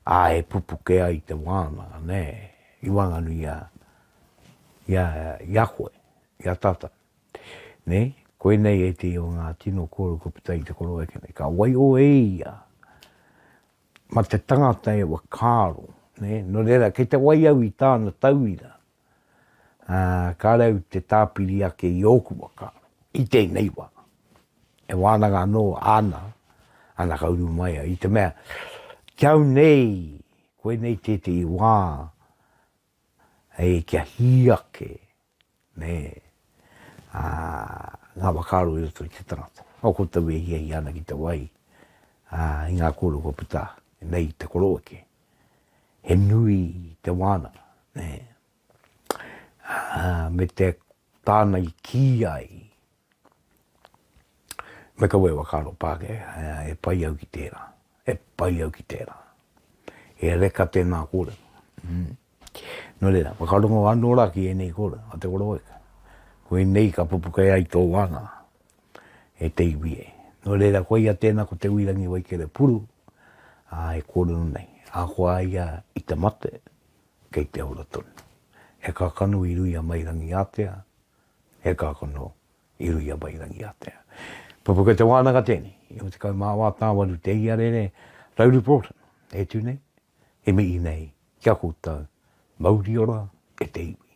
ā, e pupuke ai te wānanga, nē, i waenganui i a, i a, i a koe, i a tātou. Nē, koinei ētehi o ngā tino kōrero kua puta i te koroeke nei. Ka waiho e ia, mā te tangata e whakaaro, nē, nō reira, kei te wai au i tāna tauira, ā, kāre au i te tāpiri ake i ōku waka, i tēnei wā. E wānanga anō āna anaka uru mai ai, i te mea, ki au nei, koinei tētehi wā, hei kia hī ake, nē, ā, ngā whakaaro i roto i te tangata. Nō koutou e hiahia ana ki te wai, ā, i ngā kōrero kua puta nei i te koroweke. he nui te wānanga, nē. Me te tāna i kī ai, me kaua e whakaaro Pākehā, e pai au ki tērā, e pai au ki tērā. He reka tēnā kōrero. Nō reira, whakarongo anō rā ki ēnei kōrero a Te Koroweka, koinei ka pupuke ai tō wānanga. e te iwi e. Nō reira, koia tēnā ko Te Uirangi Waikerepuru ā, e kōrero nei, ahakoa a ia i te mate, kei te ora tonu. He kakano i Ruia Mairangiātea, he kakano i Ruia Mairangiātea. Pupuke Te Wānanga tēnei, 19 Tāwaru te iarere, Rauru Broughton e tū nei, he mihi nei ki a koutou, mauri ora e te iwi.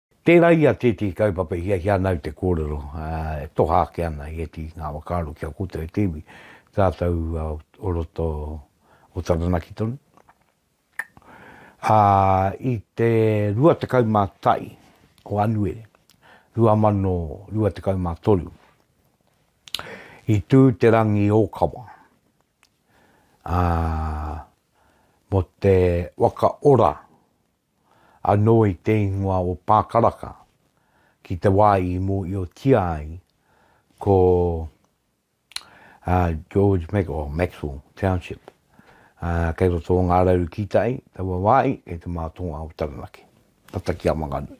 Tērā ia tētehi kaupapa i hiahia ana au te kōrero, ā, e toha ake ana i ētehi ngā whakaaro ki a koutou e te iwi, tātou o roto o Taranaki tonu. Ā, i te 21 o Anuere 2023, i tū te rangi ōkawa, ā, mō te waka ora anō i te ingoa o Pākaraka, ki te wā i mōhiotia ai ko George Mac, oh, Maxwell Township, kei roto o Ngā Rauru Kītai, taua wāhi, kei te mātonga o Taranaki, tata ki a Wanganui.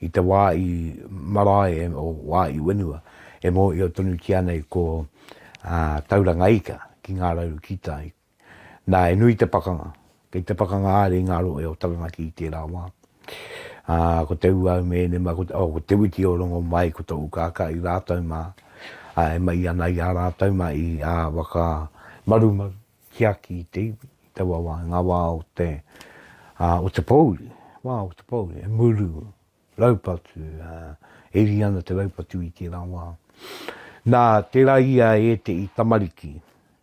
I te wā i marae e, o wā i wenua, e mōhio tonutia nei ko, ā, Tauranga Ika ki ngā rauru kītai. Nā, he nui te pakanga. Kei te pakanga haere i ngā rohe o Taranaki i tērā wā. Ā, ko Te Ūau me ēnei mā, ko, oh, ko Te Witi o Rongomai, ko Tō Ukākahi rātou mā, ā, e mahi ana i a rātou mā i ā, waka marumaru. tiaki i te iwi i taua wā, i ngā wā o te, o te pōuri, wā o te pōuri, he muru, raupatu, e ri ana te raupatu i tērā wā. Nā, tērā ia e te i tamariki,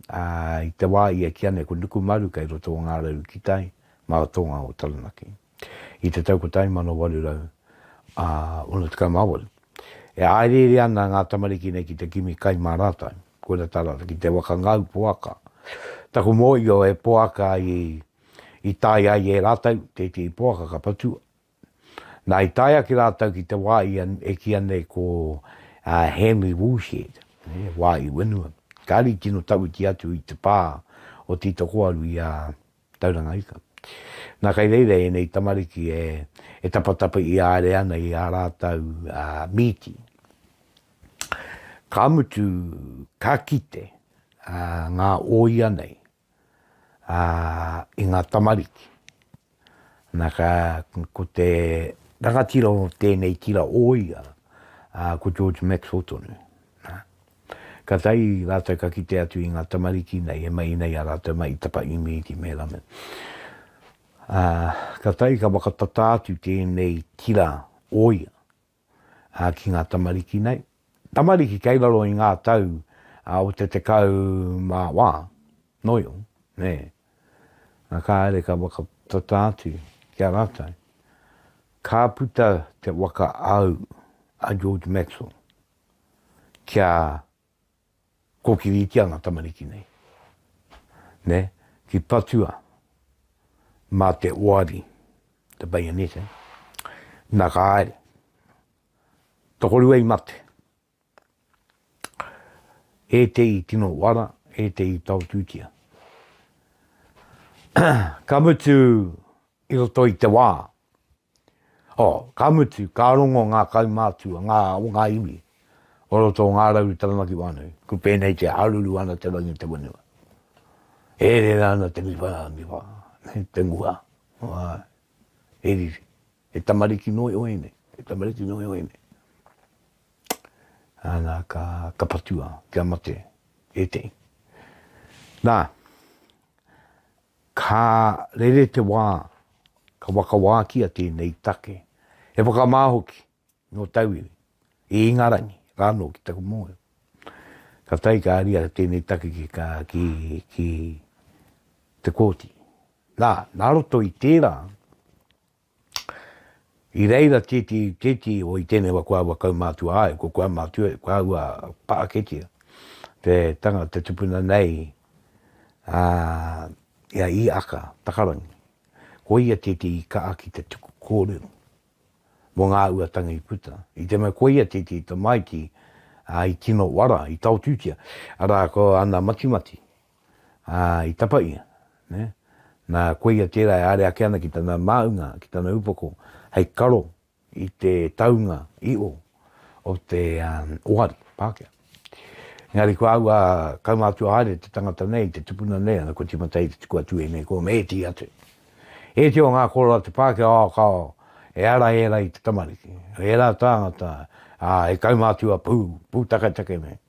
i te wā ia ki anei ko Nukumaru kei roto o Ngā Rau ki tai, mā Tonga o Taranaki. i te tau 1868. E hāereere ana ngā tamariki nei ki te kimi kai mā rātou, koira tā rātou ki te waka ngau poaka. Taku mōhio he poaka i tae ai e rātou, tētehi poaka ka patua. Nā, i tae ake rātou ki te wā e kīia nei ko Henry Woolshed, wā i whenua. Kāre i tino tawhiti atu i te pā o Titokoaru i a Tauranga ika. Nā, kei reira ēnei tamariki e, e tapatapa i āre ana i ā rātou mīti. Ka mutu, ka kite ngā ōia nei i ngā tamariki. Nā, ka, ko te rangatira o tēnei tira ōia, ko George Maxwell tonu. Katai rātou ka kite atu i ngā tamariki nei e mahi nei a rātou mai i tapa imi ki Mērame. Ā, katai ka whakatata atu tēnei tira o ia ki ngā tamariki nei. Tamariki kei raro i ngā tau o te tekau mā wā, noio, nē. Nā, kāre ka whakatata atu ki a rātou, ka puta te waka āu a George Maxwell. kia kōkiritia ngā tamariki nei, nē, ki patua mā te oari, the bayonet, eh? Nā ka haere. Tokorua i mate. E te i tino wara, e te i taotūtia. ka mutu i roto i te wā, Oh, ka mutu, ka rongo ngā kaumātua, ngā o ngā iwi, o roto o Ngā Rauru Taranaki Whānui, ko pēnei te haruru ana te rangi te whenua. E rere ana te miwha, miwha, te nguha, āe, he riri, he tamariki nō iho ēnei, he tamariki nō iho ēnei. Ana ka, ka patua, kia mate, ētehi. Nā, Ka rere te wā, ka whakawākia tēnei take, he whakamā hoki nō tauiwi, i Ingarangi rānō ki taku mōhio. Ka tae ka haria tēnei take ki ka, ki, ki te kōti. Nā, nā roto i tērā, I reira tēti, tēti o i tēnei wa kua aua kaumātua ai, ko kua mātua, kua aua pāketia, te tanga, te tupuna nei, ā, i a Īaka Takarangi. Ko ia tēti i kaha ki te tuku kōrero mō ngā ua tanga i puta. I te mea ko ia tēti i tamaiti, ā, i tino uara, i taotūtia, arā, ko ana matimati, Ā, i tapa ia, nē, nā, koia tērā e āre ake ana ki tana māunga, ki tana upoko, hei karo i te taunga iho o te ohari, Pākehā. Engari ko au a kaumātua haere te tangata nei, te tupuna nei, ana kua tīmata ai te tuku atu ēnei kōma, e tīi atu. E iti o ngā kōrero a te Pākehā, ā, ka, e ara ērā i te tamariki, ērā tāngata, ā, he kaumātua pū, pūtaketake nei.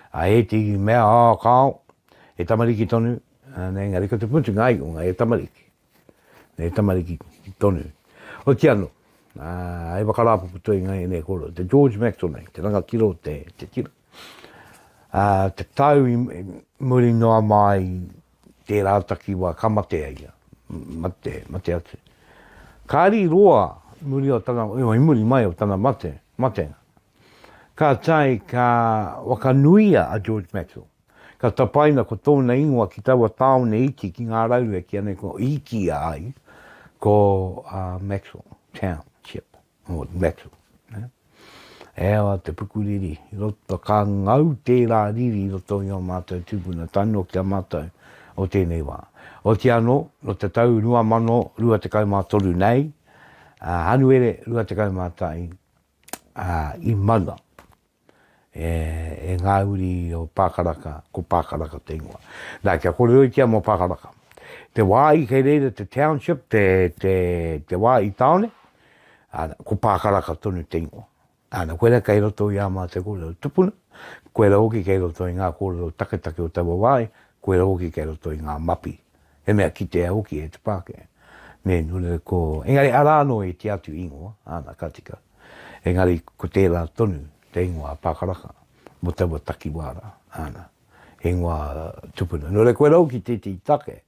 Ā, e te iwi mea, Ā, kāo, he tamariki tonu, ā, nē, engari ko te mutunga ai o ngā e tamariki, he tamariki tonu. Hoki anō, ā, he whakarāpopo toi ngā ēnei kōrero. Te George Maxwell nei, te rangatira o te, te tira, ā, te tau i muri noa mai i tērā takiwā ka mate ai ia, mate, mate atu. Kāri roa muri o tana, i muri mai o tana mate, matenga. Ka tae ka whakanuia a George Maxwell, ka tapaina ko tōna ingoa ki taua tāone iti ki ngā rauhe ki anei ko Īkia ai, ko uh, Maxwell Township, o Maxwell. Ne? E awa te pukuriri, i roto ka ngau tērā riri i roto i o mātou tūpuna, tae noa ki a mātou o tēnei wā. O te anō, no te tau 2023 nei, uh, Hanuere 21, i maua e ngā uri o Pākaraka, ko Pākaraka te ingoa. Nā, kia kōreroitia mō Pākaraka. Te wā i kei reira te township, te, te, te wā i tāone, ana, ko Pākaraka tonu te ingoa. Ana, koe rā kei roto i ā mātou kōrero tupuna, koe rā hoki kei roto i ngā kōrero taketake o taua wā, koe rā hoki kei roto i ngā mapi He mea kitea hoki e te Pākehā, me nui ko, engari arā anō i te atu ingoa, āna ka tika, engari ko tērā tonu te ingoa a Pākaraka mō taua takiwā rā, āna, ingoa tupuna. Nō reira, koirā hoki tētehi take,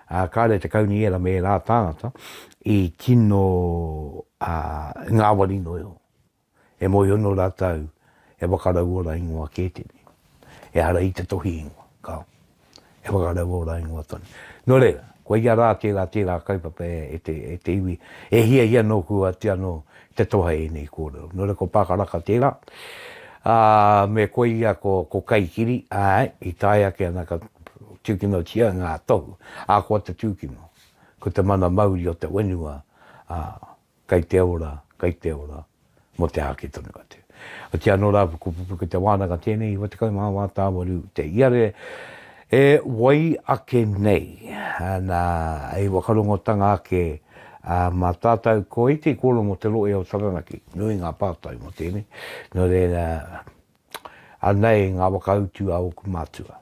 ā, kāre te kaunihera me ērā tāngata i tino ngāwari noa iho. E mōhiono rātou e whakarauora ingoa kē tēnei. Ehara i te tohi ingoa, ka. E whakarauora ingoa tonu. Nō reira, kua ia rā tērā, tērā kaupapa e te, e te iwi, e hiahia nōku atu anō te toha ēnei kōrero. Nō reira, ko Pākaraka tērā, ā, me koia ko, ko Kaikiri, āe, i tae ake ana ka tūkinotia ngā tohu, ā, ko te tūkino, ko te mana mauri o te whenua, ā, Kei te ora, kei te ora, mō te āke tonu atu. Otiā anō rā, pukupuku ki te wānanga tēnei i 19 wā tāwaru te iare e wai ake nei. Nā, hei whakarongotanga ake mā tātau, ko Iti Koro mō te Rohe o Taranaki, nui ngā pātai mō tēnei. Nō reira, anei ngā whakautu a ōku mātua.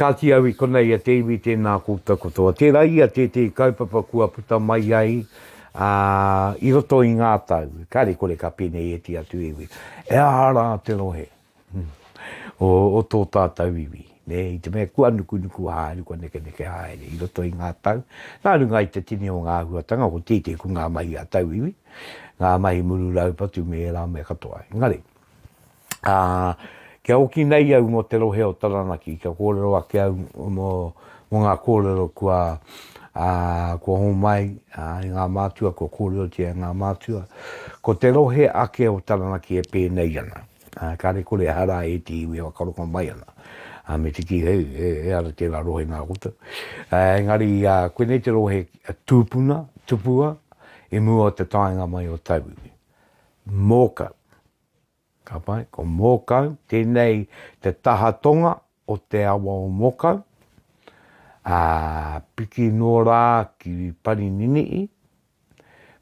Kāti au i konei a te iwi tēnā koutou katoa. Tērā ia tētehi kaupapa kua puta mai ai i roto i ngā tau, kāre kore ka pēnei e te atu iwi. Ehara rā te rohe o tō tātou iwi, nē, i te mea kua nukunuku haere, kua nekeneke haere i roto i ngā tau. Nā runga i te tini o ngā āhuatanga, ko tētehi ko ngā mahi a tauiwi, ngā mahi muru raupatu me ērā mea katoa. Engari. Ā, kia oki nei au mō te rohe o Taranaki, kia kōrero ake au mō, mō ngā kōrero kua, ā, kua homai, ā, e ngā mātua, kua kōrerotia e ngā mātua. Ko te rohe ake o Taranaki e pēnei ana. Ā, kāre kore aha rā ētehi iwi e whakarongo mai ana, ā, me te kī, hei, e, e ara tērā rohe nā koutou. Ā, engari, ā, koinei te rohe tūpuna, tupua, i mua o te taenga mai o tauiwi. Mōkau. Ka pai, ko Mōkau, tēnei te taha tonga o te awa o Mōkau, ā, piki noa rā ki Parinini'i,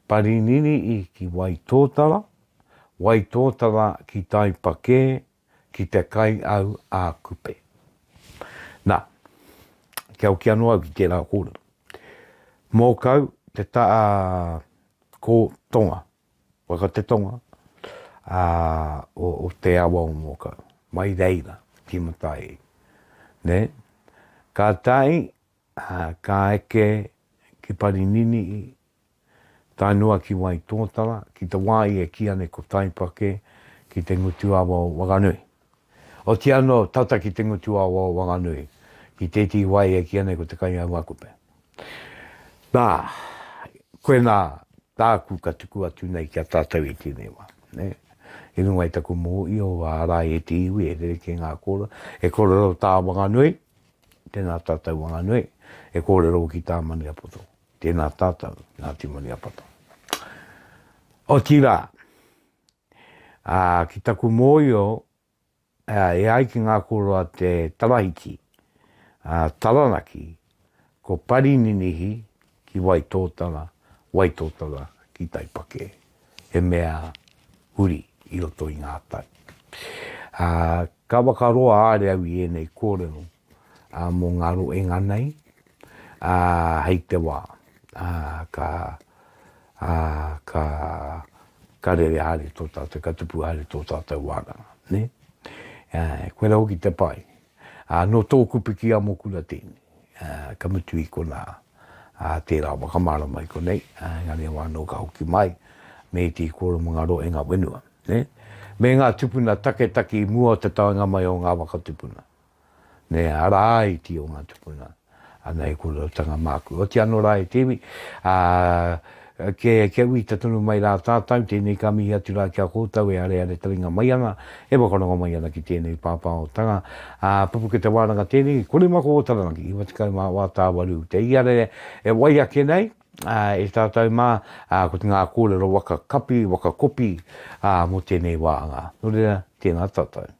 Parinini'i ki Waitōtara, Waitōtara ki Taipakē, ki te kai au a Kupe. Nā, kia hoki anō au ki tērā kōrero. Mōkau, te taha, ko, tonga, Waka te tonga o te awa o Mōkau, mai reira ki Matairi. Kātahi ka eke ki Parininihi, tae noa ki Waitōtara, ki te wā i e kīa nei ko Taipake, ki te ngutu awa o Wakanui. Otiia anō, tata ki te ngutu awa o Wanganui, ki tētehi wai e kīia nei ko Te Kaingaungakupe. Nā, koe nā tāku ka tuku atu nei ki a tātou i tēnei wā. I runga i taku mōhio, ārai e te iwi, e rerekē ngā kōrero, e kōrero tā Wanganui, tēnā tātou Wanganui, e kōrero hoki tā Maniapoto, tēnā tātou Ngāti Maniapoto. Otirā, Ā, ki taku mōhio, e ai ki ngā kōrero a te Tarahiti, a Taranaki, ko Parininihi ki Waitōtara, Waitōtara ki Taipakē, he mea huri i roto i ngā tau. Ā, ka whakaroa a Reau i ēnei kōrero. mō ngā roenga nei hei te wā ka rere haere tō tātou, ka tupu haere tō tātou wānanga. Koirā hoki te pai, nō tōku piki amo kura tēnei, ka mutu i konā tērā whakamārama i konei, engari e wā anō ka hoki mai me ētehi kōrero mō ngā roenga whenua. Me ngā tupuna taketake i mua o te taenga mai o ngā waka tupuna. me ara ai ki ō ngā tupuna, ana he kōrerotatanga māku. Otiia anō rā e te iwi, ā, kia uita tonu mai rā tātou, tēnei ka mihi atu rā ki a kōtou e areare taringa mai ana, e whakarongo mai ana ki tēnei pāpāhotanga, ā, pupuke te wānanga tēnei, kore mā ko ō Taranaki, 94 tāwaru, te iare e wai ake nei, ā, e tātou mā, ā, ko te ngā kōrero waka kapi, waka kopi, ā, mō tēnei wā anga. Nō reira, tēnā tātou.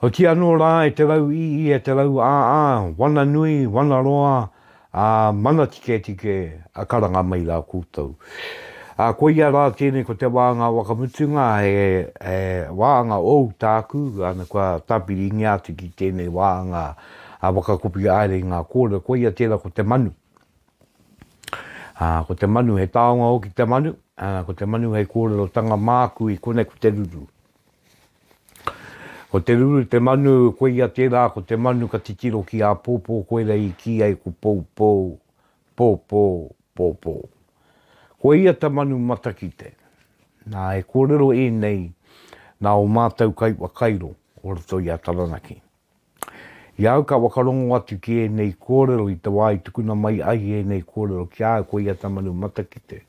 Hoki anō rā e te rau ī ī, e te rau ā ā, wana nui, wana roa, ā, mana tiketike, a karanga mai rā koutou. Ā, koia rā tēnei ko te wāanga wakamutunga, he, he wāanga ōu tāku, ana kua tāpiringia atu ki tēnei wāanga a Whakakopi Aere i ngā kōrero, koia tērā ko te manu. Ā, ko te manu, he taonga hoki te manu, ā, ko te manu hei kōrerotanga māku i konei ko te ruru. Ko te ruru te manu, koia tērā ko te manu ka titiro ki āpōpō koirā i kī ai ko poupou, pōpō, pōpō. Koia te manu matakite. Nā, e kōrero ēnei nā ō mātou kai whakairo o roto i a Taranaki. I a au ka whakarongo atu ki ēnei kōrero i te wā i tukuna mai ai ēnei kōrero ki a au ko ia te manu matakite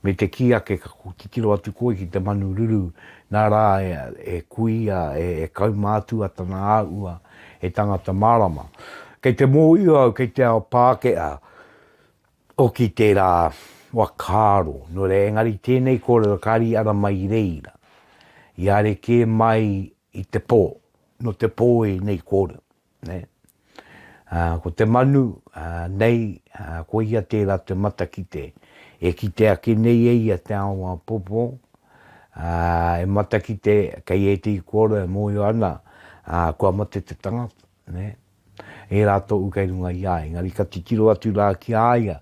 me te kī ake ka titiro atu koe ki te manu ruru nā rā e kuia e kaumātua tana āhua he tangata mārama. Kei te mōhio au kei te ao Pākehā hoki tērā whakaaro nō reira engari tēnei kōrero kāri i ara mai i reira i arekē mai i te pō nō te pō i nei kōrero, nē. Ā, ko te manu, ā, nei, ā, ko ia tērā te matakite e kite ake nei e ia te ao āpōpō, ā, e matakite kei ētehi kōrero e mōhio ana, ā, kua mate te tangata, nē. Ērā tōu kei runga i a, engari ka titiro atu rā ki a ia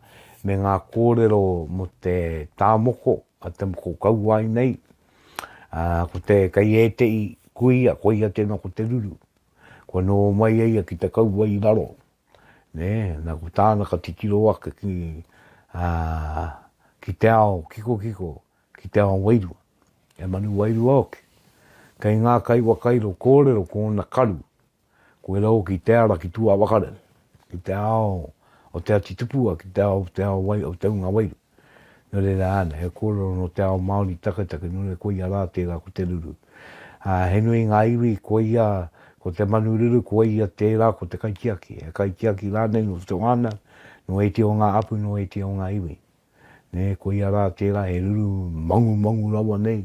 me ngā kōrero mō te tā moko, te moko kauae nei, ā, ko te, kei ēteʻi kuia, koia tēnā ko te ruru. Kua nō mai e ia ki te kaua i raro, nē, nā ko tāna ka titiro ake ki, ā, ki te ao kikokiko, ki te ao wairua, he manu wairua hoki. Kei ngā kai wakairo kōrero ko ōna karu, Koira hoki te ara ki tua wakarehu, ki te ao o te ati tupua, ki te ao, te ao wai, o te hunga wairu. No reira ana, he korero no te ao Maori taketake, no reira koia ra tera ko te ruru. A, he nui nga iwi, koia, ko te manu ruru, koia tera ko te kaitiaki, he kaitiaki ranei no te whanau, no eiti o nga apu, no eiti o nga iwi. nē, koia rā tērā e ruru mangumangu rawa nei,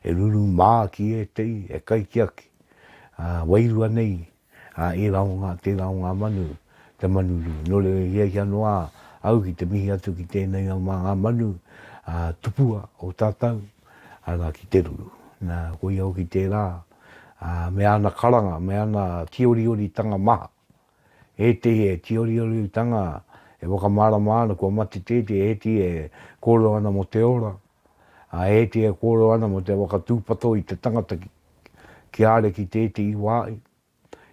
e ruru mā ki ētehi, e kaitiaki, ā, wairua nei, ā, ērā o ngā, tērā o ngā manu, te manu rū. Nō reira, i hiahia noa au ki te mihi atu ki tēnei au mā ngā manu, ā, tupua o tātou, arā, ki te ruru. Nā, koia hoki tērā, ā, me ana karanga, me ana tīorioritanga maha, ētehi e tīorioriutanga, e whakamārama ana kua mate tētehi, ētehi e kōrero ana mō te ora, ā, ētehi e kōrero ana mō te whakatūpato i te tangata ki a Ariki i tētehi wā,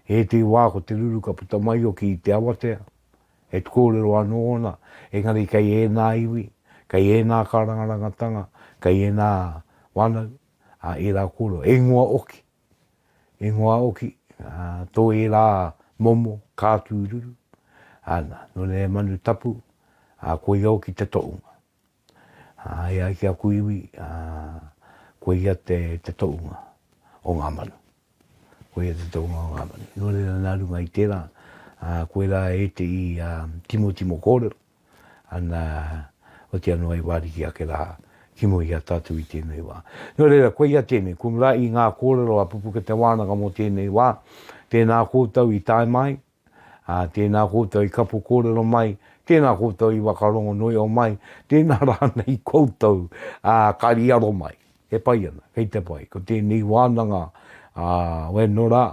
ētehi wā ko te ruru ka puta mai hoki i te awatea, he kōrero anō ōna, engari kei ēnā iwi, kei ēnā kārangarangatanga, kei ēnā whānau, ā, ērā kōrero, e ingoa hoki. ingoa hoki, tō ērā momo kātūruru, ana, nō reira manu tapu, koia hoki te toʻunga. E ai ki aku iwi, koia te toʻunga o ngā manu, koia te toʻunga o ngā manu. Nō reira nā runga i tērā, koirā e te i timotimo kōrero, ana, otia noa i wāriki ake rā ki mua i a tātou i tēnei wā. Nō reira, koia tēnei, ko ngā i ngā kōrero a Pupuke Te Wānanga mō tēnei wā, tēnā koutou i tae mai, ā, tēnā koutou i kapo kōrero mai, tēnā koutou i whakarongo noio mai, tēnā rānei koutou, ā, ka riaro mai. E pai ana, kei te pai, ko tēnei wānanga, ā, wēnō rā,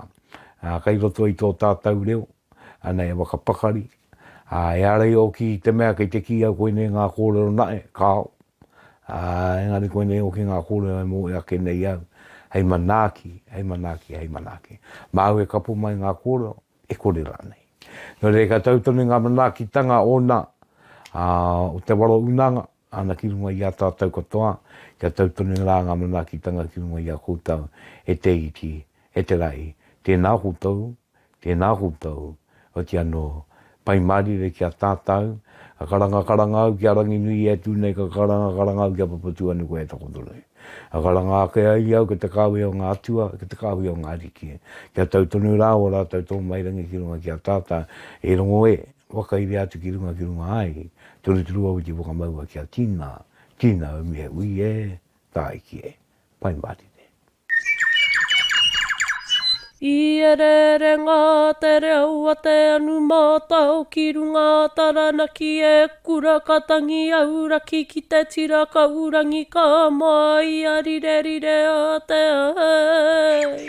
ā, kei roto i tō tātou reo, ana e whakapakari, Ā, e ara i ōki i te mea kei te kī au koinei ngā kōrero naʻe, kāo. Ā, engari koinei ōki ngā kōrero e moe ake nei au, hei manaaki, hei manaaki, hei manaaki. Māu e kapo mai ngā kōrero, e kore rānei. Nō reira ka tau tonu ngā manaakitanga ōna, ā, o te waro unanga, Ana ki runga i a tātou katoa, kia tau tonu rā ngā manaakitanga ki runga i a koutou, e te iti, e te rahi, tēnā koutou, tēnā koutou, oti anō, Pai mārire ki a tātou, ka karanga karanga au ki a Ranginui e tū nei, ka karanga karanga au ki a Papatūānuku e takoto nei. Ka karanga ake ai au ki te kāwē o ngā atua, ki te kāhui o ngā ariki, kia tau tonu rā ō rātou tōmairangi ki runga ki a tātou, e rongo e, Whakairia atu ki runga ki runga ai, turuturu au i te whakamaua ki a Tina, Tina au mihe ui e, tāiki e, pai mātete. I ererenga te reo a te anu mātao ki runga a Taranaki e kura ka tangi auraki ki te tira ka urangi ka māia rirerire a te ai.